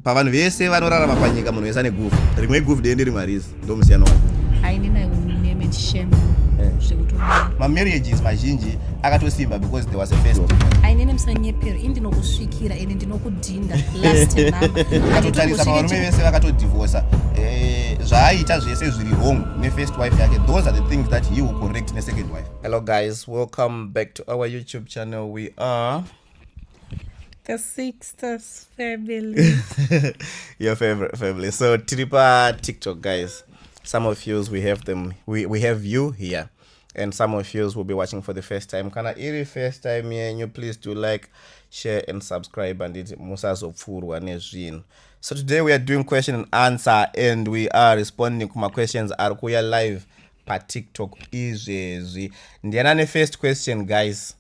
pavanhu vese vanorarama panyika munhu wese ane guvhu rimwe iguvhu dee nderimwe harizi ndomusiyano wake mamarriages mazhinji akatosimba because there was a first ainene musanyepera ini ndinokusvikira ende ndinokudhinda lastatotarisa pavarume vese vakatodivhosa eh, zvaaita zvese zviri wrong nefirst wife yake those are the things that he will correct nesecond wife hello guys welcome back to our youtube channel we are the sixters family your favorite family so tiri pa tiktok guys some of yous we have them we, we have you here and some of yous will be watching for the first time kana iri first time yenyu please do like share and subscribe handiti musazopfuurwa nezvinhu so today we are doing question and answer and we are responding kuma questions ari kuuya live patiktok izvezvi ndiana nefirst question guys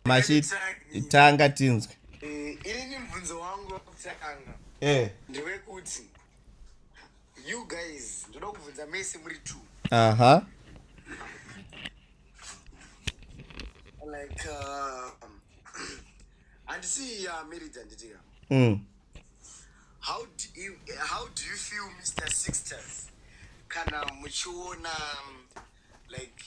Mashi tanga tinzwe. Eh, ini ni mvunzo wangu wakutanga. Eh. Ndiwe kuti you guys ndoda kuvunza mese muri two. Aha. Like uh, and see ya uh, married and dear. Mm. How do you how do you feel Mr. Sixters? Kana muchiona um, like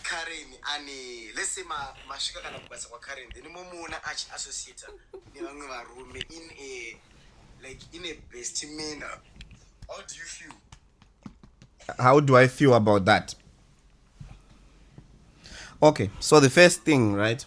karen ane let's say ma, masvika kana kubasa kwakaren then momuona achiassociata nevamwe varume in a like in a best manner how do you feel how do i feel about that okay so the first thing right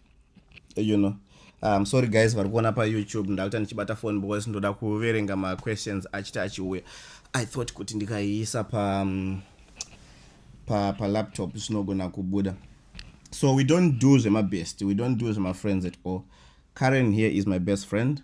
you know um, sorry guys vari kuona payoutube ndakuita ndichibata phone because ndoda kuverenga maquestions achiti achiuya i thought kuti ndikaiisa pa um, pa palaptop zvinogona kubuda so we don't do zvemabest we don't do zvemafriends at all karen here is my best friend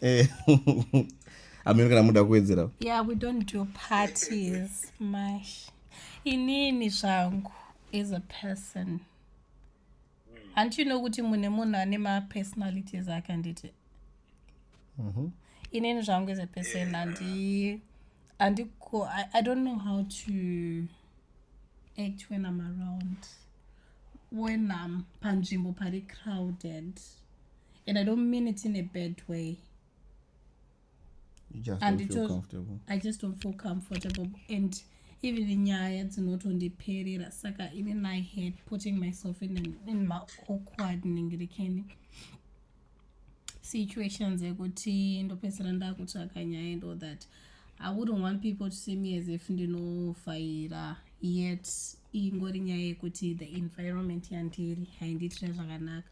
eh, amene kana muda kuwedzera yeah we don't do parties mash inini zvangu as a person hanti uno kuti mune munhu ane mapersonalities ake handiti mhm. inini zvangu as a person handi andiko i don't know how to act when i'm around when i'm panzvimbo pari crowded and i don't mean it in a bad way and it was, i just don't feel comfortable and even nyaya dzinotondiperera saka ini i had putting myself in, an, in my awkward ningirikeni situations ekuti ndopedzera ndakutsvaka nyaya and all that i wouldn't want people to see me as if ndinofaira yet ingori nyaya yekuti the environment yandiri haindiitira zvakanaka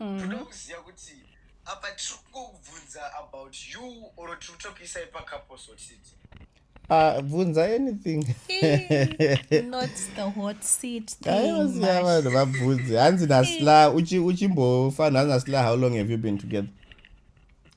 mm-hmm. toda kuziva kuti apa tiri kungobvunza about you or tiri kutokuisai pakaposotit ah, bvunza anything aiwasiya vanhu vabvunze hanzi nasla uchimbofa nhanzi nasla how long have you been together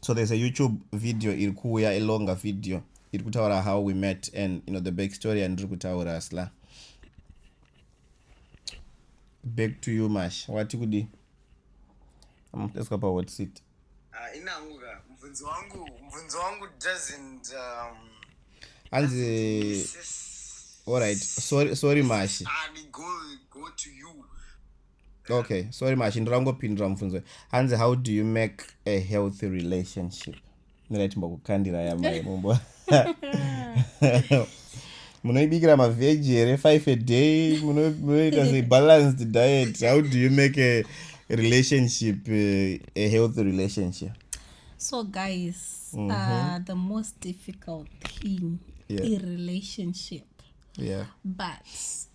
so there's a youtube video iri kuuya a longer video iri kutaura how we met and you know the back story yandiri kutaura sla back to you mash wati kudi amuteswa pahot seat ah, inangu ka mubvunzi wangu mubvunzi wangu doesn't um, hanzi all right sorry, sorry mashi ah, go, go to you okay sorry mashi ndirangopindura mubvunzo hanzi how do you make a healthy relationship mirai timbokukandira yamai mumbo munoibikira mavheji here five a day munoita se balanced diet how do you make a relationship eh, a healthy relationship so guys mm -hmm. uh, the most difficult thing yeah. in relationship yeah but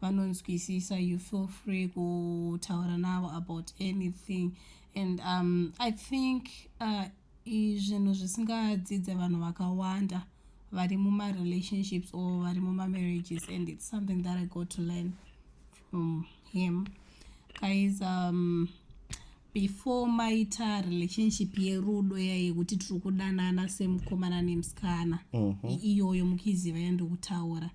vanonzwisisa you feel free kutaura navo about anything and um, i think uh, zvinhu zvisingadzidze vanhu vakawanda vari mumarelationships or vari mumamarriages and its something that i got to learn from him guys um, before maita relationship yerudo yayekuti tiri kudanana semukomana nemusikana mm -hmm. iyoyo mukiziva yandikutaura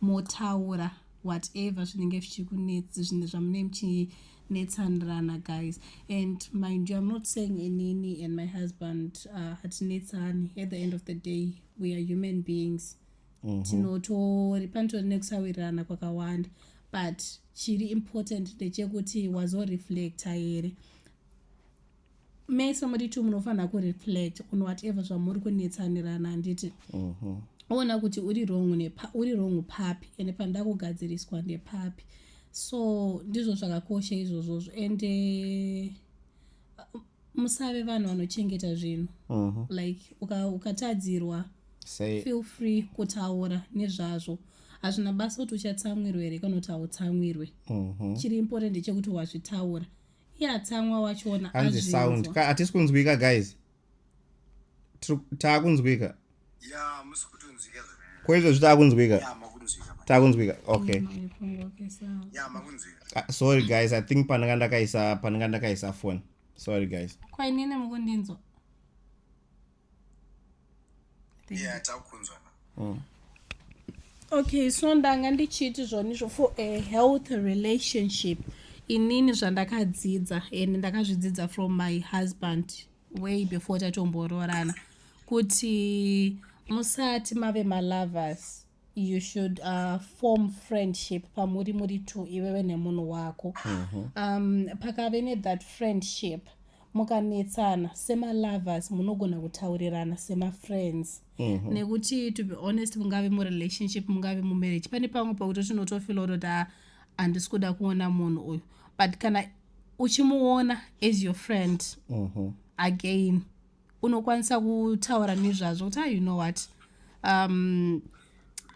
motaura whatever zvinenge zvichikunetsi zvinhu zvamunee muchinetsanirana guys and mind you im not saying inini and my husband uh, hatinetsani uh, at the end of the day we are human beings mhm. tinotori panotori nekusawirirana kwakawanda but chiri important ndechekuti wazoreflecta here mese muri two munofanira kureflect on whatever zvamuri kunetsanirana handiti mhm. oona kuti uri wrong uri wrong papi ende panoda kugadziriswa ndepapi so ndizvo zvakakosha izvozvozvo ende eh, musave vanhu vanochengeta zvinhu mhm. like ukatadzirwa uka Say, feel free kutaura nezvazvo hazvina basa kuti uchatsamwirwa here kana kuti hautsamwirwe mhm. chiri important chekuti wazvitaura yatsamwa wachona hanzi sound ka hatisi kunzwika guys taakunzwika ko izvo zvitaakunzwika taakunzwika okay ah, sorry guys i think pandanga ndakaisa pandanga ndakaisa phone sorry guys kwainini mukundinzwa yeah takunzwa mm. okay so ndanga ndichiiti zvonizvo for a health relationship inini zvandakadzidza and ndakazvidzidza from my husband way before tatomboroorana kuti musati mave malovers you should uh, form friendship pamuri muri two iwewe nemunhu wako mm -hmm. um, pakave nethat friendship mukanetsana semalovers munogona kutaurirana semafriends mm -hmm. nekuti to be honest mungave murelationship mungave mumarriage pane pamwe pakuti tinotofila kutoti ah, handisi kuda kuona munhu uyu but kana uchimuona as your friend mm -hmm. again unokwanisa kutaura nezvazvo kuti ah, you know what um,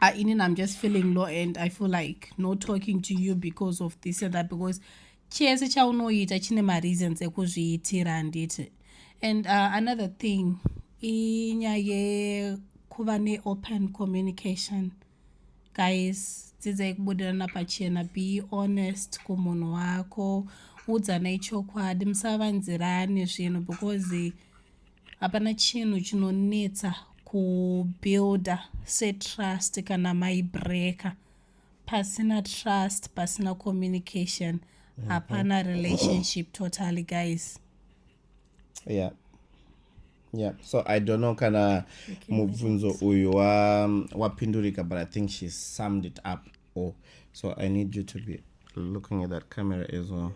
uh, inini i'm just feeling low and i feel like no talking to you because of this and that because chese chaunoita chine mareasons ekuzviitira handiti and uh, another thing inyaya yekuva neopen communication uh, guys dzidzai kubudirana pachena be honest kumunhu wako udzanai chokwadi musavanzirane zvinhu because hapana chinhu chinonetsa kubuilda setrust kana maibreaker pasina trust pasina communication mhm. hapana relationship totally guys yeah yeah so i don't know kana okay, mubvunzo uyu wapindurika wa but i think she summed it up all so i need you to be looking at that camera as well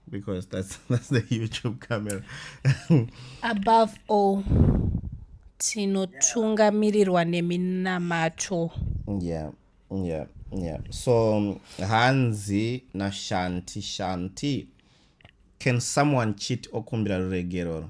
because that's that's the youtube camera above all tinotungamirirwa neminamato yeah yeah yeah so hanzi nashanti shanti can someone cheat okumbira ruregeroro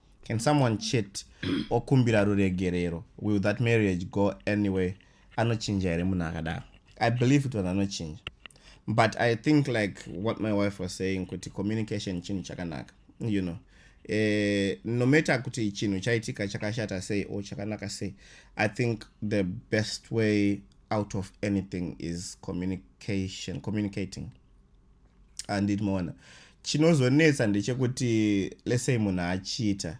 can someone chet okumbira ruregerero will that marriage go anyway anochinja here munhu akadaro i believe kuti vanhu anochinja but i think like what my wife was saying kuti communication chinhu chakanaka you know eh, no matter kuti chinhu chaitika chakashata sei or chakanaka sei i think the best way out of anything is communication communicating andit maona chinozonetsa ndechekuti lesey munhu achiita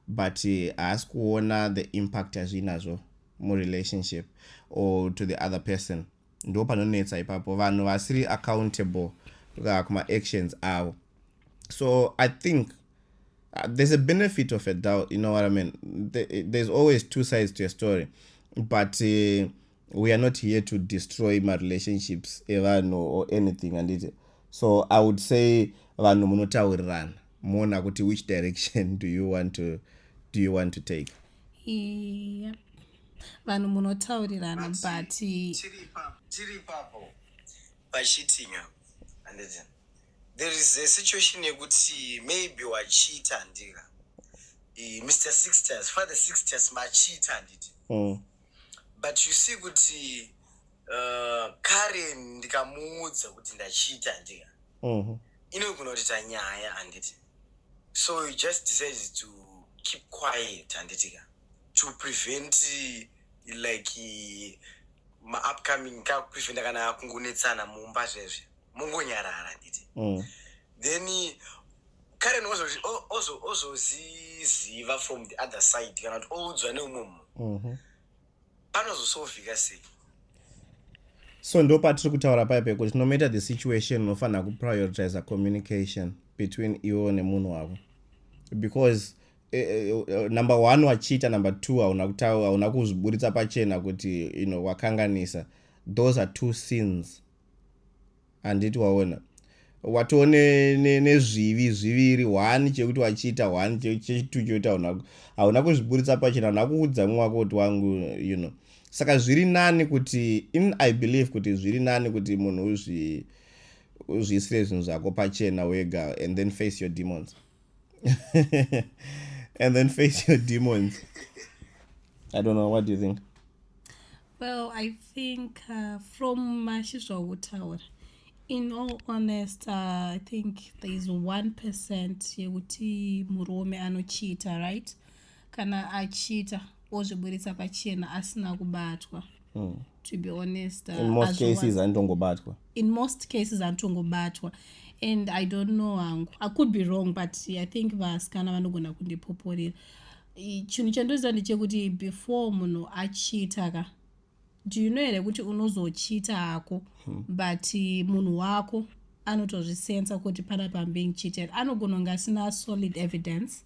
but haasi kuona the impact azviinazvo murelationship or to the other person ndo panonetsa ipapo vanhu vasiri accountable uh, kumaactions avo so i think uh, there's a benefit of a doubt you know what i mean there's always two sides to a story but uh, we are not here to destroy marelationships evanhu or anything handiti so i would say vanhu munotaurirana moona kuti which direction do you want to, do you want to take yeah. vanhu munotaurirana but tiri papo pachitinga handiti there is a situation yekuti maybe wachiita handika mr sixters father sixters machiita handiti mm. but you see kuti uh, karen ndikamuudza kuti ndachiita ndika mm -hmm. inogona kuti tanyaya handiti so you just decided to keep quiet handitika to prevent like maupcoming kakupreventa kana kungonetsana mumba zvezve mongonyarara handiti mm. then karen ozoziziva from the other side kana kuti oudzwa neumwe munhu mhm. panozosovhika sei so ndo patiri kutaura paye pekuti no matter the situation unofanira kuprioritiza communication between iwo nemunhu wavo because eh, eh, eh, number one wachiita number two hauna kutaura hauna kuzviburitsa pachena kuti you know wakanganisa those are two sins handiti waona watoo nezvivi ne, zviviri one chekuti wachiita one chechitu chekuti hauna kuzviburitsa pachena hauna kuudza mwe wako kuti wangu you know saka zviri nani kuti in i believe kuti zviri nani kuti munhu uzvi uzviisire zvinhu zvako pachena wega and then face your demons and then face your demons i don't know what do you think well i think uh, from mashi zvautaura in all honest uh, i think there is one percent yekuti murume anochiita right kana achiita ozviburitsa pachena asina kubatwa mm. to be honest uh, in most cases anotongobatwa in most cases anotongobatwa and i don't know hangu i could be wrong but i think vasikana vanogona kundipoporera chinhu chandoziva ndechekuti before munhu achiita ka do you know here kuti unozochiita hako hmm. but munhu wako anotozvisensa kuti pana pambing cheated anogona kunge asina solid evidence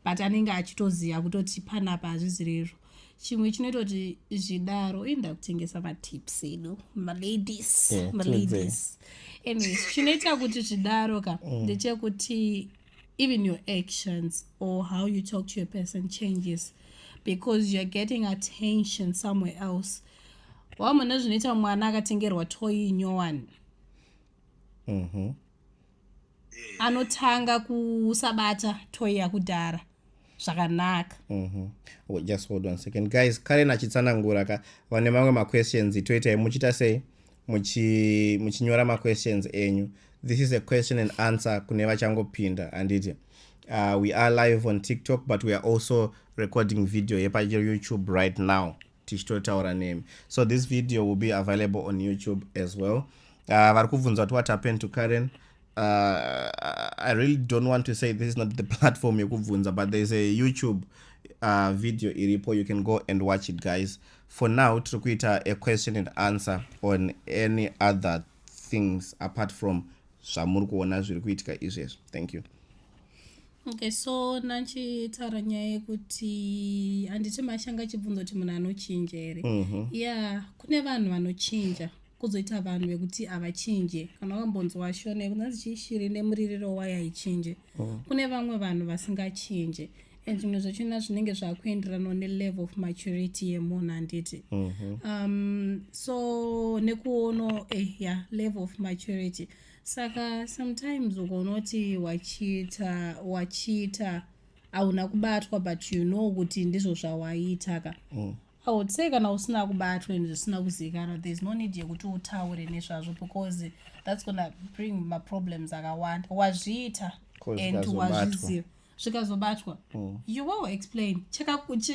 but anenge achitoziva kutoti panapa hazvizi rero chimwe chinoita kuti zvidaro inda kutengesa matips edu maladies yeah, maladies anyways chinoita kuti zvidaro ka mm. ndechekuti mm. even your actions or how you talk to your person changes because youare getting attention somewhere else wamona zvinoita mwana akatengerwa toyi nyowani mm -hmm. anotanga kusabata toyi yakudhara zvakanaka mm -hmm. oh, just hold on second guys karen achitsanangura ka vane mamwe maquestions toitai muchiita sei muchinyora maquestions enyu this is a question and answer kune vachangopinda handiti uh, we are live on tiktok but we are also recording video yepayoutube right now tichitotaura nemi so this video will be available on youtube as well uh, vari kubvunza kuti what happened to karen uh, i really don't want to say this is not the platform yekubvunza but there's a youtube uh, video iripo you can go and watch it guys for now tiri kuita a question and answer on any other things apart from zvamuri kuona zviri kuitika izvezvi thank you okay so nachitaura nyaya yekuti handiti mashanga achibvunza kuti munhu anochinja here mhm. ya kune vanhu vanochinja kuzoita vanhu vekuti havachinje kana wakambonzwa shona yekunanzi chiishiri nemuririro wayo haichinje mhm. kune vamwe vanhu vasingachinje and zvimwe zvachona zvinenge zvakuenderana nelevel of maturity yemunhu handiti mhm. um, so nekuono eh, ya yeah, level of maturity saka sometimes ukaona kuti wachiita wachiita hauna kubatwa but you know kuti ndizvo zvawaita ka mm. i would say kana usina kubatwa and zvisina kuzivikanwa thereis no need yekuti utaure nezvazvo because thats gonna bring maproblems akawanda wazviita and wazviziva zvikazobatwa mm. you will explain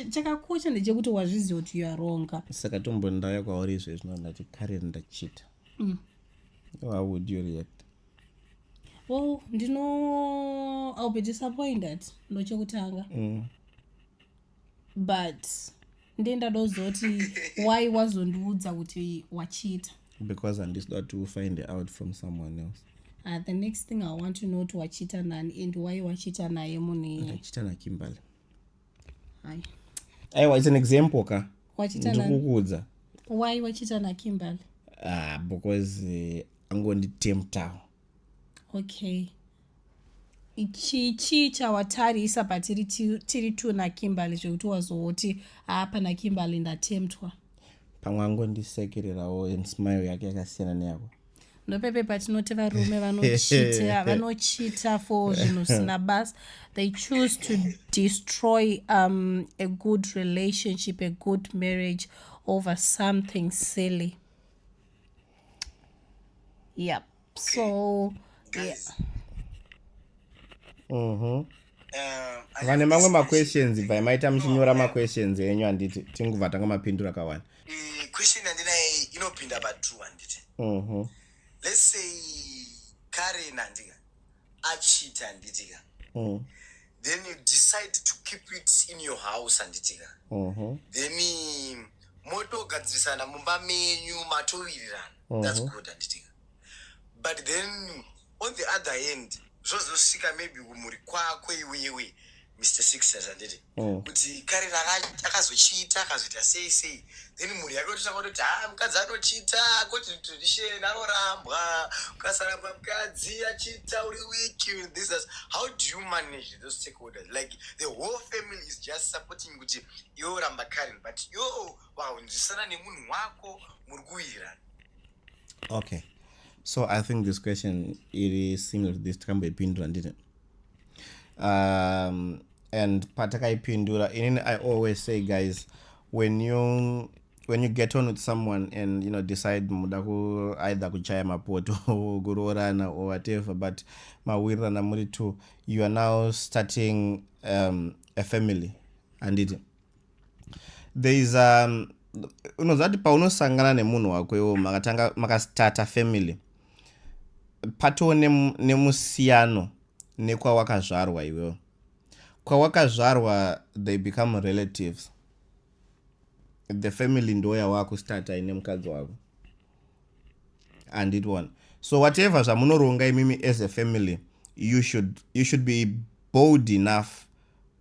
chakakosha ndechekuti wazviziva kuti you are wrong saka tombondaya kwauri izvezvino ndati kare ndachita mm. how would you react well ndino i'll be disappointed ndochekutanga mm. but ndendadozoti why wazondiudza kuti wachiita because handisida kuti ufind out from someone else uh, the next thing i want to know kuti wachiita nani and why wachiita naye munhu iye achita nakimberly aiwa its an example ka ndikukuudza why wachiita nakimberly ah because eh, angonditemptawo uh, okay chii chii chawatarisa patiri tiri two nakimberly zvekuti wazoti haa pana kimberly ndatemtwa pamwe angondisekererawo and smile yake yakasiyana neyako ndopepe patinoti varume vanochita vanochita for zvinhu zvisina basa they choose to destroy um, a good relationship a good marriage over something silly yep so yeah. mm -hmm. vane mamwe maquestions bvai maita muchinyora maquestions enyu handiti tinguva tanga mapindura kawani eh, question yandinaye inopinda patu handiti mhm. let's say karen handika achita handitika mm. then you decide to keep it in your house handitika mhm. then motogadzirisana mumba menyu matowirirana that's mhm. good handitika but then on the other hand zvozosvika maybe kumhuri kwako iwewe mr sixers handiti mm. kuti kare akazochiita akazoita sei sei then mhuri yake ototanga kutoti ha ah, mukadzi anochiita koti tradition anorambwa ukasaramba mukadzi achiita uri wiki this as how do you manage those stakeholders like the whole family is just supporting kuti iwe uramba karen but yo wahunzisana nemunhu wako muri kuwirirana okay so i think this question iri similar to this takamboipindura ndine um, and patakaipindura inini i always say guys when you when you get on with someone and you know decide muda ku either kuchaya mapoto kuroorana or whatever but mawirirana muri two you are now starting um, a family handiti there is um, unoziva kuti paunosangana nemunhu wako iwo makatanga makastata family patowo nemusiyano nekwawakazvarwa iwewo kwawakazvarwa they become relatives the family ndo yawakustata ine mukadzi wako andit one so whatever zvamunoronga imimi as a family you should, you should be bold enough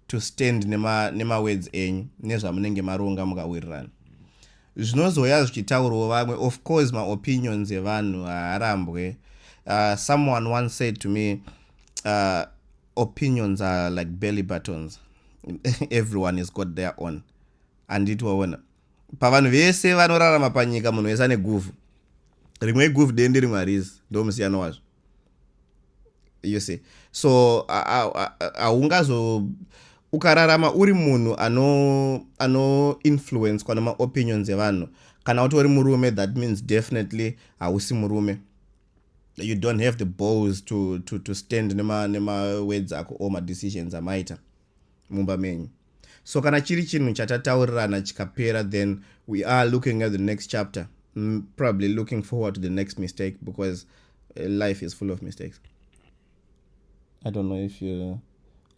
to stand nema, nema words enyu nezvamunenge maronga mukawirirana zvinozouya zvichitaurwo vamwe of course maopinions evanhu haarambwe uh, someone once said to me uh, opinions are like belly buttons everyone is got their own handiti waona pavanhu vese vanorarama panyika munhu wese ane guvhu rimwe iguvhu dende rimwe harizi ndo musiyano wazvo you see so haungazo ukararama uri munhu ano ano influencwa nemaopinions evanhu kana utori murume that means definitely hausi murume you don't have the balls to, to, to stand nemawords ako or madecisions amaita mumba menyu so kana chiri chinhu chatataurirana chikapera then we are looking at the next chapter mm, probably looking forward to the next mistake because uh, life is full of mistakes i don't know if you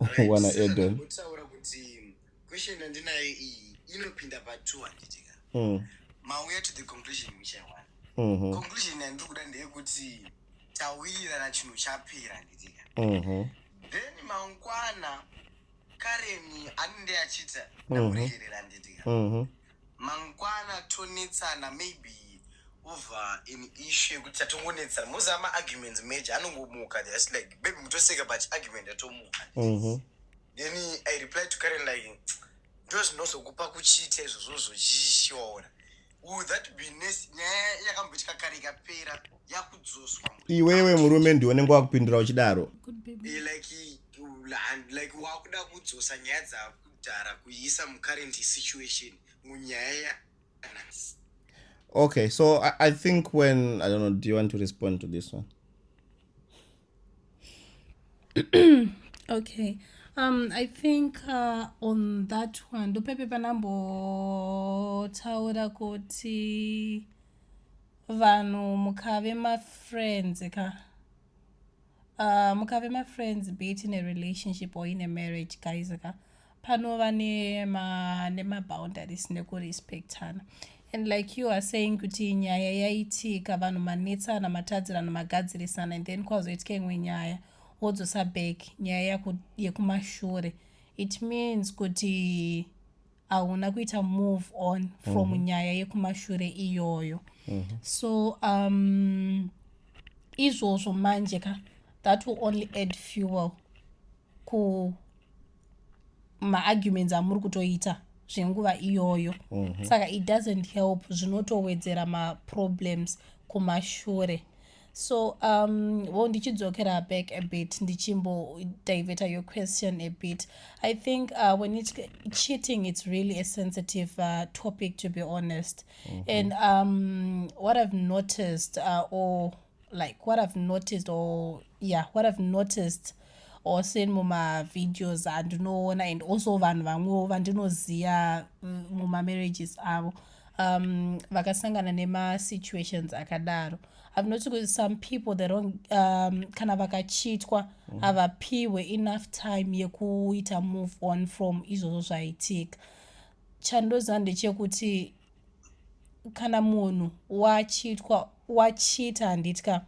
right, wanna so add on kutaura kuti question andinayo iyi inopinda pa 2 anditika mm. mauya to the conclusion which i want mm -hmm. conclusion yandiri kuda ndeyekuti tawirirana chinhu chapera nditika mhm. then mangwana kareni anende achita mhm. ndamuregerera nditika mhm. mangwana tonetsana maybe over in issue yekuti tatongonetsana most ama arguments major anongomuka just like baby mutoseka but argument atomuka then i reply to karen like ndozvinozokupa kuchiita izvozvo zvochishoora Would that be nice? Nyaya yakamboitika kare ikapera yakudzoswa. Iwewe murume ndiwe unenge wakupindura uchidaro. Eh, like like wakuda kudzosa nyaya dzakudhara kuiisa mucurrent situation munyaya Okay, so I, I think when I don't know, do you want to respond to this one? okay um i think uh, on that one ndopepe panambotaura kuti vanhu mukave mafriends ka uh, mukave mafriends be it in a relationship or in a marriage guys ka panova nemaboundaries nema nekurespectana and like you are saying kuti nyaya yaitika vanhu manetsana matadzirana magadzirisana and then kwazoitika imwe nyaya wodzosa back nyaya yekumashure it means kuti hauna kuita move on from mm -hmm. nyaya yekumashure iyoyo mm -hmm. so um izvozvo manje ka that will only add fuel ku maarguments amuri kutoita zvenguva iyoyo mm -hmm. saka it doesn't help zvinotowedzera maproblems kumashure so um wo ndichidzokera back a bit ndichimbo diveta your question a bit i think uh, when it cheating it's really a sensitive uh, topic to be honest mm -hmm. and um what i've noticed uh, or like what i've noticed or yeah what i've noticed or seen mumavideos andinoona and also vanhu vamwewo vandinoziva mm, mumamarriages avo um, vakasangana nemasituations akadaro i've noticed kuti some people they don't um, kana vakachitwa mm. havapiwe enough time yekuita move on from izvozvo zvaitika chandoziva ndechekuti kana munhu wachitwa wachita handitya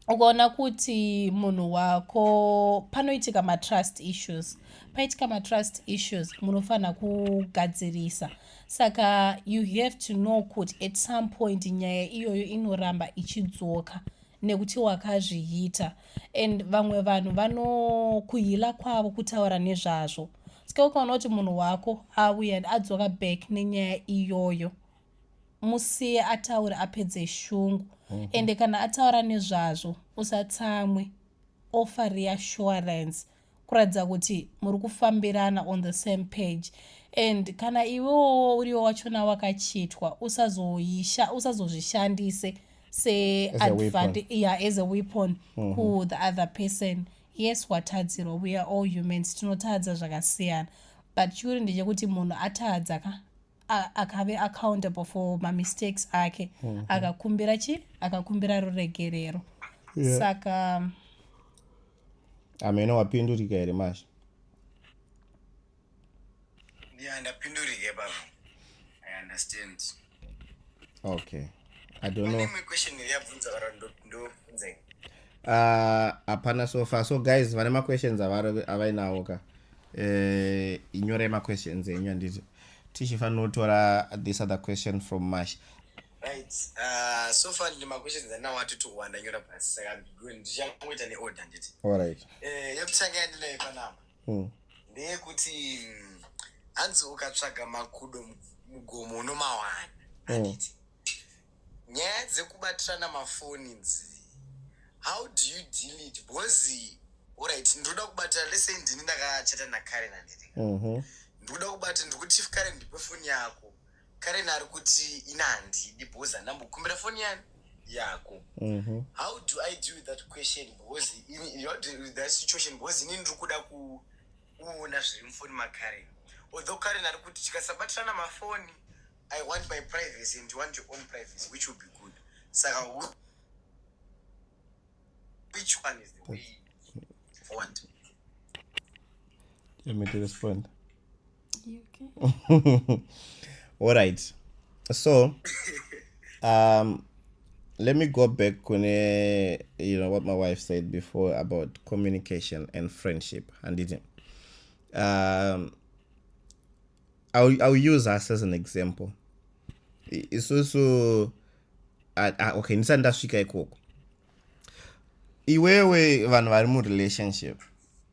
ukaona kuti munhu wako panoitika matrust issues paitika matrust issues munofanira kugadzirisa saka you have to know kuti at some point nyaya iyoyo inoramba ichidzoka nekuti wakazviita and vamwe vanhu vanokuhila kwavo kutaura nezvazvo ska ukaona kuti munhu wako auya adzoka back nenyaya iyoyo musiye ataure apedze shungu mm -hmm. ende kana ataura nezvazvo usatsamwe offer reassurance mm -hmm kuratidza kuti muri kufambirana on the same page and kana iwewo uriwo wachona wakachitwa usazoisha usazozvishandise seadvantage yeah, as a weapon mm -hmm. ku the other person yes watadzirwa we are all humans tinotadza zvakasiyana but chikuru ndechekuti munhu atadza ka akave accountable for mamistakes ake mm -hmm. akakumbira chi akakumbira ruregerero yeah. saka ameno wapindurika here masha yeah ndapindurike baba i understand okay i don't know imwe question yabvunza vara ndobvunza ah, hapana uh, so far so guys vane maquestions avainawo ka eh, inyorai maquestions enyu handiti tichifanira kutora this other question from mash Right. Uh, so far ndi maquestions andinawo ati two one ndanyora pasi saka ndichangoita neorder nditi. All right. Eh, yekutanga yandinayo panapa. Mm. Ndeyekuti mm, hanzi ukatsvaga makudo mugomo unomawana. Mm. Anditi. Mm. Nyaya dzekubatirana mafoni dzi how do you deal it because orit ndinoda kubatira lese ndini ndakachata nakare nandiri mm-hmm. ndikuda kubata ndikuti chief kare ndipe foni yako Karen ari kuti ina handidi because handambokumbira foni yani yako mm-hmm. how do i deal with that question because in, how do with that situation because inini ndiri kuda kuona zviri mufoni makaren although karen ari kuti tikasabatirana mafoni i want my privacy and you want your own privacy which will be good saka which one is the way forward let me to respond alright so um, let me go back kune you know what my wife said before about communication and friendship handiti um, I'll, I'll use us as an example isusu uh, uh, okay ndisati ndasvika ikoko iwewe vanhu vari murelationship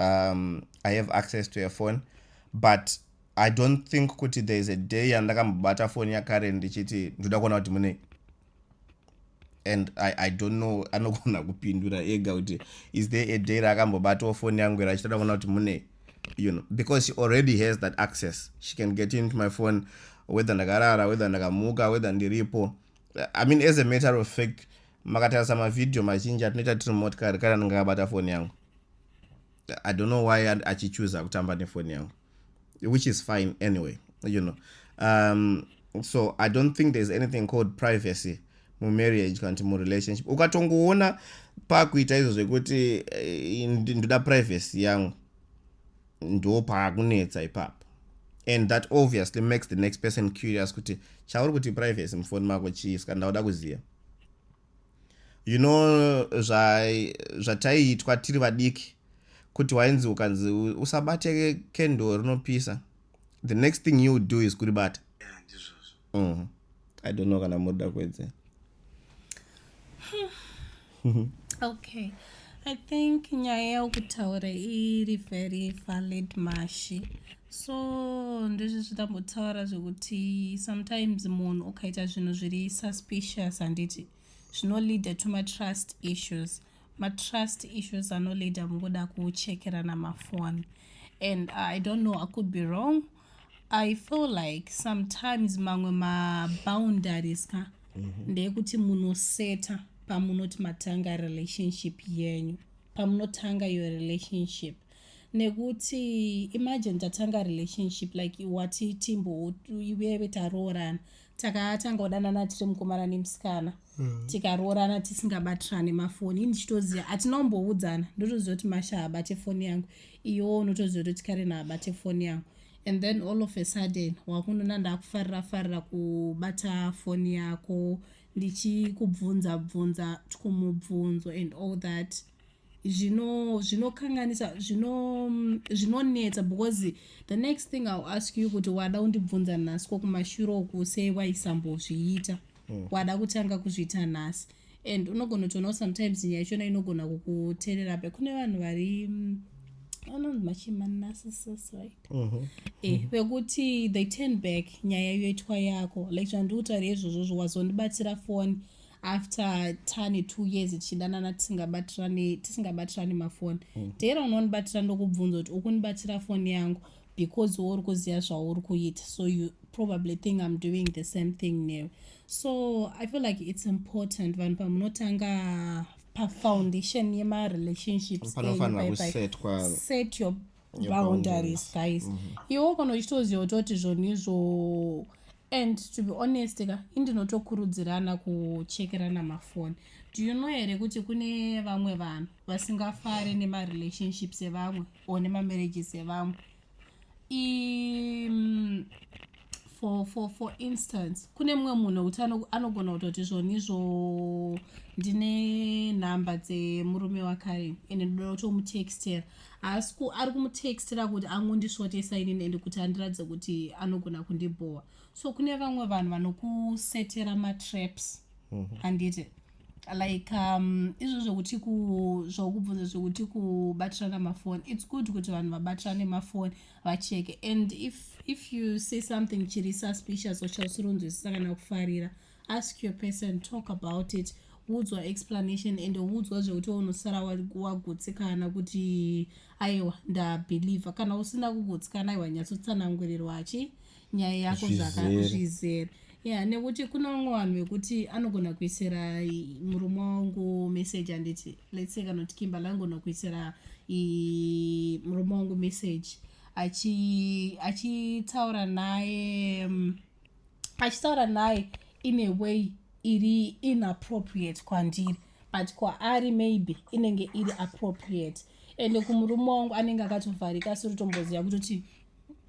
um, i have access to a phone but i don't think kuti there is a day yandakambobata phone yakaren ndichiti ndoda kuona kuti munei and I, i don't know anogona kupindura ega kuti is there a day raakambobatawo foni yangu ira achitoda kuona kuti mune you know because she already has that access she can get into my phone whether ndakarara whether ndakamuka whether ndiripo i mean as a matter of fact makatarisa mavhidhiyo mazhinji atinoita tiri mumotikari kari anenge akabata foni yangu i don't know why achichuza kutamba nefoni yangu which is fine anyway you know um, so i don't think there's anything called privacy mumarriage kana kuti murelationship ukatongoona pakuita izvo zvekuti eh, ndoda privacy yangu ndo paakunetsa ipapo and that obviously makes the next person curious kuti chauri kuti privacy mufoni mako chii ska ndauda kuziva you know zvataiitwa zva tiri vadiki kuti wainzi ukanzi usabate kendo rinopisa the next thing you do is kuribata yeah, mm. i don't know kana muda kuedze okay i think nyaya yaukutaura iri very valid mashi so ndizvi zvitambotaura zvekuti sometimes munhu ukaita zvinhu zviri suspicious handiti zvinoleada to matrust issues matrust issues anoleada mukuda kuchekerana mafoni and uh, i don't know i could be wrong i feel like sometimes mamwe maboundaries ka mm -hmm. ndeyekuti munoseta pamunoti matanga relationship yenyu pamunotanga your relationship nekuti imagine tatanga relationship like wati timbo iweve taroorana takatanga kudanana tiri mukomana nemusikana mm. tikaroorana tisingabatirane mafoni ndichitoziva hatina kumboudzana ndotoziva kuti masha haabate foni yangu iyowo unotoziva kuti karena haabate foni yangu and then all of a sudden wakunona ndakufarira farira kubata foni yako ndichikubvunza bvunza tikumubvunzo and all that zvinokanganisa zvino zvinonetsa because the next thing ill ask you kuti wada undibvunza nhasi ko kumashure uku sei waisambozviita mm. wada kutanga kuzviita nhasi and unogona kutoonawo sometimes nyaya chona inogona kukuterera pe kune vanhu vari mm, anonzi machimanasisisi right mhm. eh, vekuti they turn back nyaya yoitwa yako like zvandikutaura izvozvo zvo wazondibatira foni after tane two years tichidanana tisingabatirani tisingabatirani mafoni mm. dera unondibatira ndokubvunza kuti ukunibatira foni yangu because wouri kuziva zvauri kuita so you probably think i'm doing the same thing now so i feel like it's important vanhu pamunotanga pafoundation yemarelationships set your boundaries guys mm-hmm. iwe ukonochitoziva utoti zvoni izvo and to be honest ka indinotokurudzirana kuchekerana mafoni do you know here kuti kune vamwe vanhu vasingafare nemarelationships evamwe or nemamarriages evamwe mm, for, for, for instance kune mumwe munhu wekuti anogona kutoti zvonizvo ndine nhamba dzemurume wakare ende ndoda kutomutextera haasi ku ari kumutextira kuti angondisvotesa inini ende kuti andiratidze kuti anogona kundibhowa so kune vamwe vanhu vanokusetera matraps mhm. handiti mm -hmm. like um, izvo zvekuti zvokubvunza zvekuti kubatirana mafoni its good kuti vanhu vabatirane mafoni vacheke and if, if you say something chiri suspicious uchausironzwisisa kana kufarira mm -hmm ask your person talk about it woudzwa explanation and woudzwa zvekuti unosara wagutsikana kuti aiwa ndabhelievha kana usina kugutsikana aiwa nyatsotsanangurirwa achi nyaya yako zvakazvizere ya nekuti kune vamwe vanhu vekuti anogona kuisira murume wangu message handiti lets say kana kuti kimbala anogona kuisira murume wangu message achitaura naye um, achitaura naye in a way iri inappropriate kwandiri but kwaari maybe inenge iri appropriate ende kumurume wangu anenge akatovharika asiri tomboziva kutoti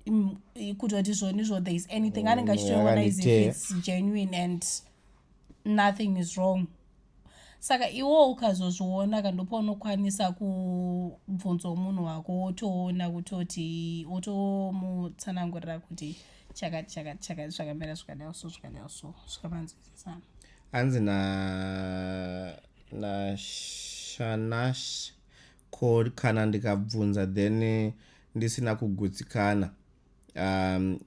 mm, kutoti zvonizvo there is anything anenge achitoona is if its genuine and nothing is wrong saka iwo ukazozviona ka ndopaunokwanisa kubvunzwa munhu wako wotoona kutoti wotomutsanangurira kuti chakati chakati chakati zvakamira zvikadai so zvikadai so zvikamanzwisisana hanzi na nashanash ko kana ndikabvunza then ndisina kugutsikana um,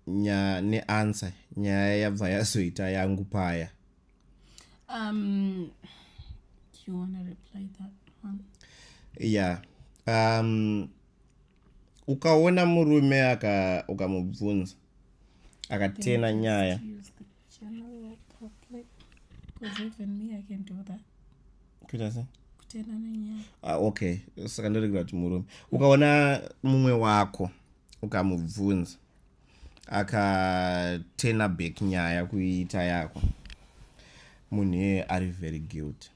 nyaya neansa nyaya yabva yazoita yangu paya um, yeah um, ukaona murume ukamubvunza akatena nyaya General public, because even me I can do that. Kuita sei? Kutenda nenyaya. Ah, okay. Saka ndoregera kuti murume. Ukaona mumwe wako ukamubvunza akatena back nyaya kuita yako munhu iyeye ari very guilty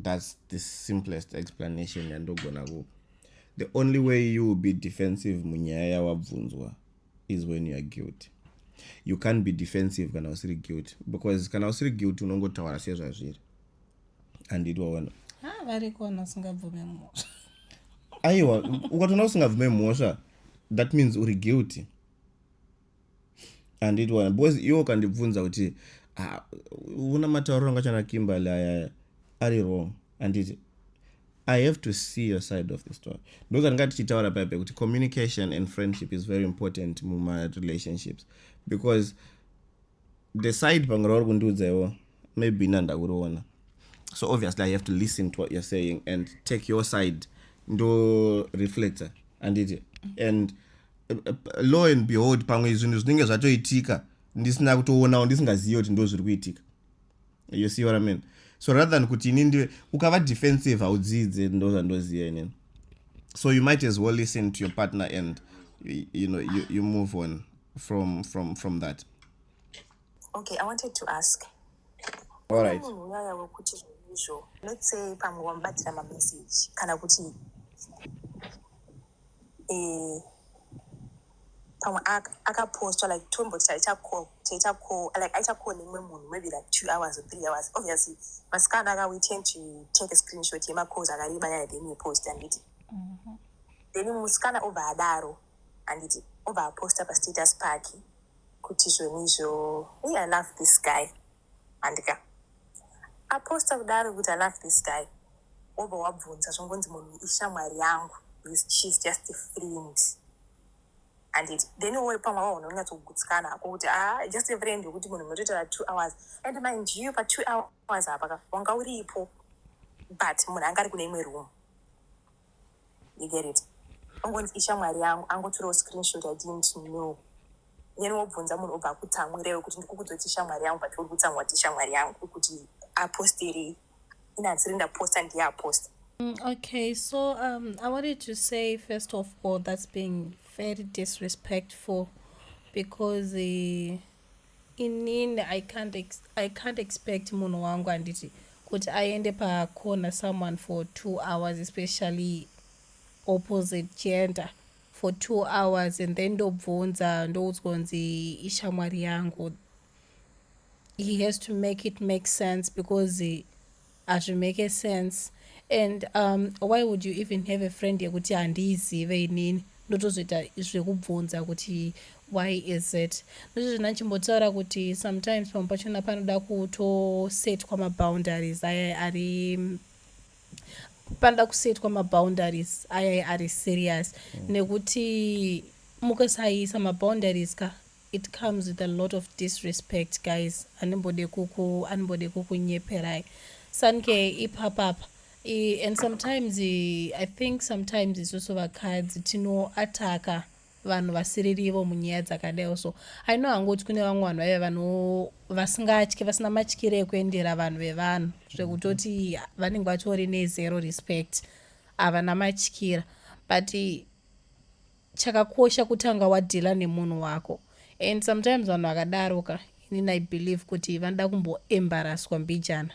that's the simplest explanation yandogona kupa the only way you will be defensive munyaya yawabvunzwa is when youare guilty you can't be defensive kana usiri guilty because kana usiri guilty unongotaura sezvazviri and it waona ah, variko vanhu vasingabvume mhosva aiwa ukatoona usingabvume mhosva that means uri guilty and it waona because iwo ukandibvunza kuti ah, una matauriro angachana kimberly ayaya ari wrong anditi I have to see your side of the story. Ndoka ndinga tichitaura paipe kuti communication and friendship is very important muma relationships because the side pamwe rauri kundiudza iwo maybe ina ndakuriona so obviously i have to listen to what you're saying and take your side ndo reflector anditi and uh, uh, law and behold pamwe zvinhu zvinenge zvatoitika ndisina kutoonawo ndisingazivi kuti ndo zviri kuitika you see what i mean so rather than kuti ini ndiwe ukava defensive haudzidze ndo zvandoziva inini so you might as well listen to your partner and you know you, you move on from from from that okay i wanted to ask all right nyaya wekuti izvo let's say pamwe wamubatira mamessage kana kuti eh, pamwe akaposta like tomboti taita call taita call like aita call nemumwe munhu maybe like two hours or three hours obviously masikana aka we tend to take a screenshot yemacalls akareba yaya then yepost handiti mhm. then musikana obva adaro handiti obva aposta pastatus pake kuti zvoni izvo we i love this guy handika aposta kudaro kuti i love this guy wobva wabvunza zvongonzi munhu ishamwari yangu she's just a friend and it then wori pamwe ava unhu unyatsogutsikana hako kuti a ah, just a friend yokuti munhu munotoitara two hours and mind you pa two hours apa ka wanga uripo but munhu anga ari kune imwe room you get it ongonzi ishamwari yangu angoturawo screenshot i didn't know then wobvunza munhu obva akutsamwirewo kuti ndikukudzoti shamwari yangu but uri kutsamwa kuti shamwari yangu kuti apostirei inasiri ndaposta ndiye aposta mm, okay so um, i wanted to say first of all that's being very disrespectful because uh, inini i can't, ex I can't expect munhu wangu anditi kuti aende pacorner someone for two hours especially opposite gender for two hours and then ndobvunza ndoudzwa kunzi ishamwari yangu he has to make it make sense because hazvimake sense and um, why would you even have a friend yekuti handiizive inini ndotozoita zvekubvunza kuti why is it ndozvizvo ndachimbotaura kuti sometimes pamwe pachona panoda kutosetwa maboundaries aya ari panoda kusetwa maboundaries ayai ari serious mm. nekuti mukasaiisa maboundaries ka it comes with a lot of disrespect guys andimbode kuku andimbode kukunyeperai sanke ipapapa and sometimes i think sometimes isusu vakadzi tinoataka vanhu vasiririvo munyaya dzakadaiwo so i know hangu kuti kune vamwe vanhu vaive vano vasingatye vasina matyire ekuendera vanhu vevanhu zvekutoti vanenge vatori nezero respect havana matyira but chakakosha kutanga wadhila nemunhu wako and sometimes vanhu vakadaroka inini i believe kuti vanoda kumboembaraswa mbijana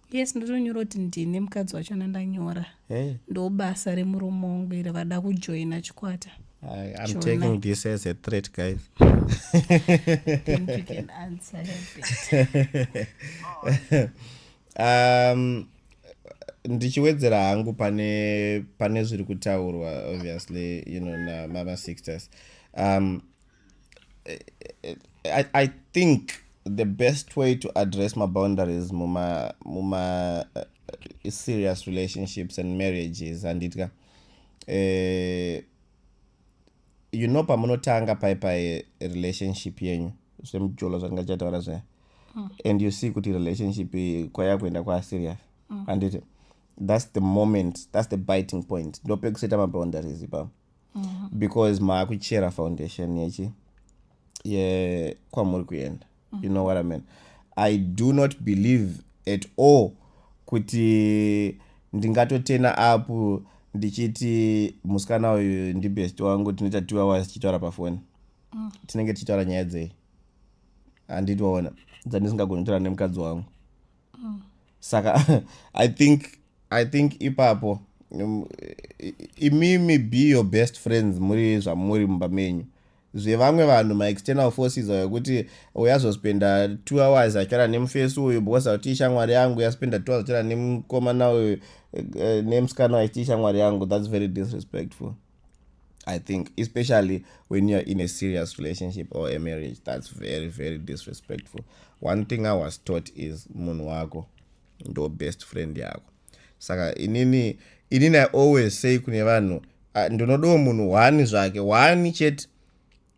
yes ndotonyora kuti ndine mukadzi wacho nandanyora hey. Eh? ndobasa remurume wangu iri vada kujoina chikwata I, I'm Jonah. taking this as a threat, guys. think you can answer um, ndichiwedzera hangu pane pane zviri kutaurwa obviously you know namama sixters um, I, I think the best way to address my boundaries muma muma uh, serious relationships and marriages handitya uh, you know pamunotanga pai pai relationship yenyu zvemujolo zvanga chataura zvaya mm. and you see kuti relationship kwaya kuenda kwa serious mm. handiti that's the moment that's the biting point ndopekusaita maboundaries ipapo mm -hmm. because maakuchera foundation yechi yekwamuri kuenda mm -hmm. you know what i mean i do not believe at all kuti ndingatotena apo ndichiti musikana uyu ndibest wangu tinoita two hours tichitaura pafoni mm. tinenge tichitaura nyaya dzei handiti waona dzandisingagoni kutaura nemukadzi wangu mm. saka i think i think ipapo um, imimi be your best friends muri zvamuri mumba menyu zvevamwe vanhu maexternal forces ayo kuti uyazospenda two hours achara nemufesi uyu because auti ishamwari yangu yaspenda two hours achara nemukomana uyu eh, eh, nemusikana aiti ishamwari yangu thats very disrespectful i think especially when youare in a serious relationship or a marriage that's very very disrespectful one thing i was taught is munhu wako ndo best friend yako saka inini inini i always say kune vanhu ah, ndinodawo munhu wani zvake wani chete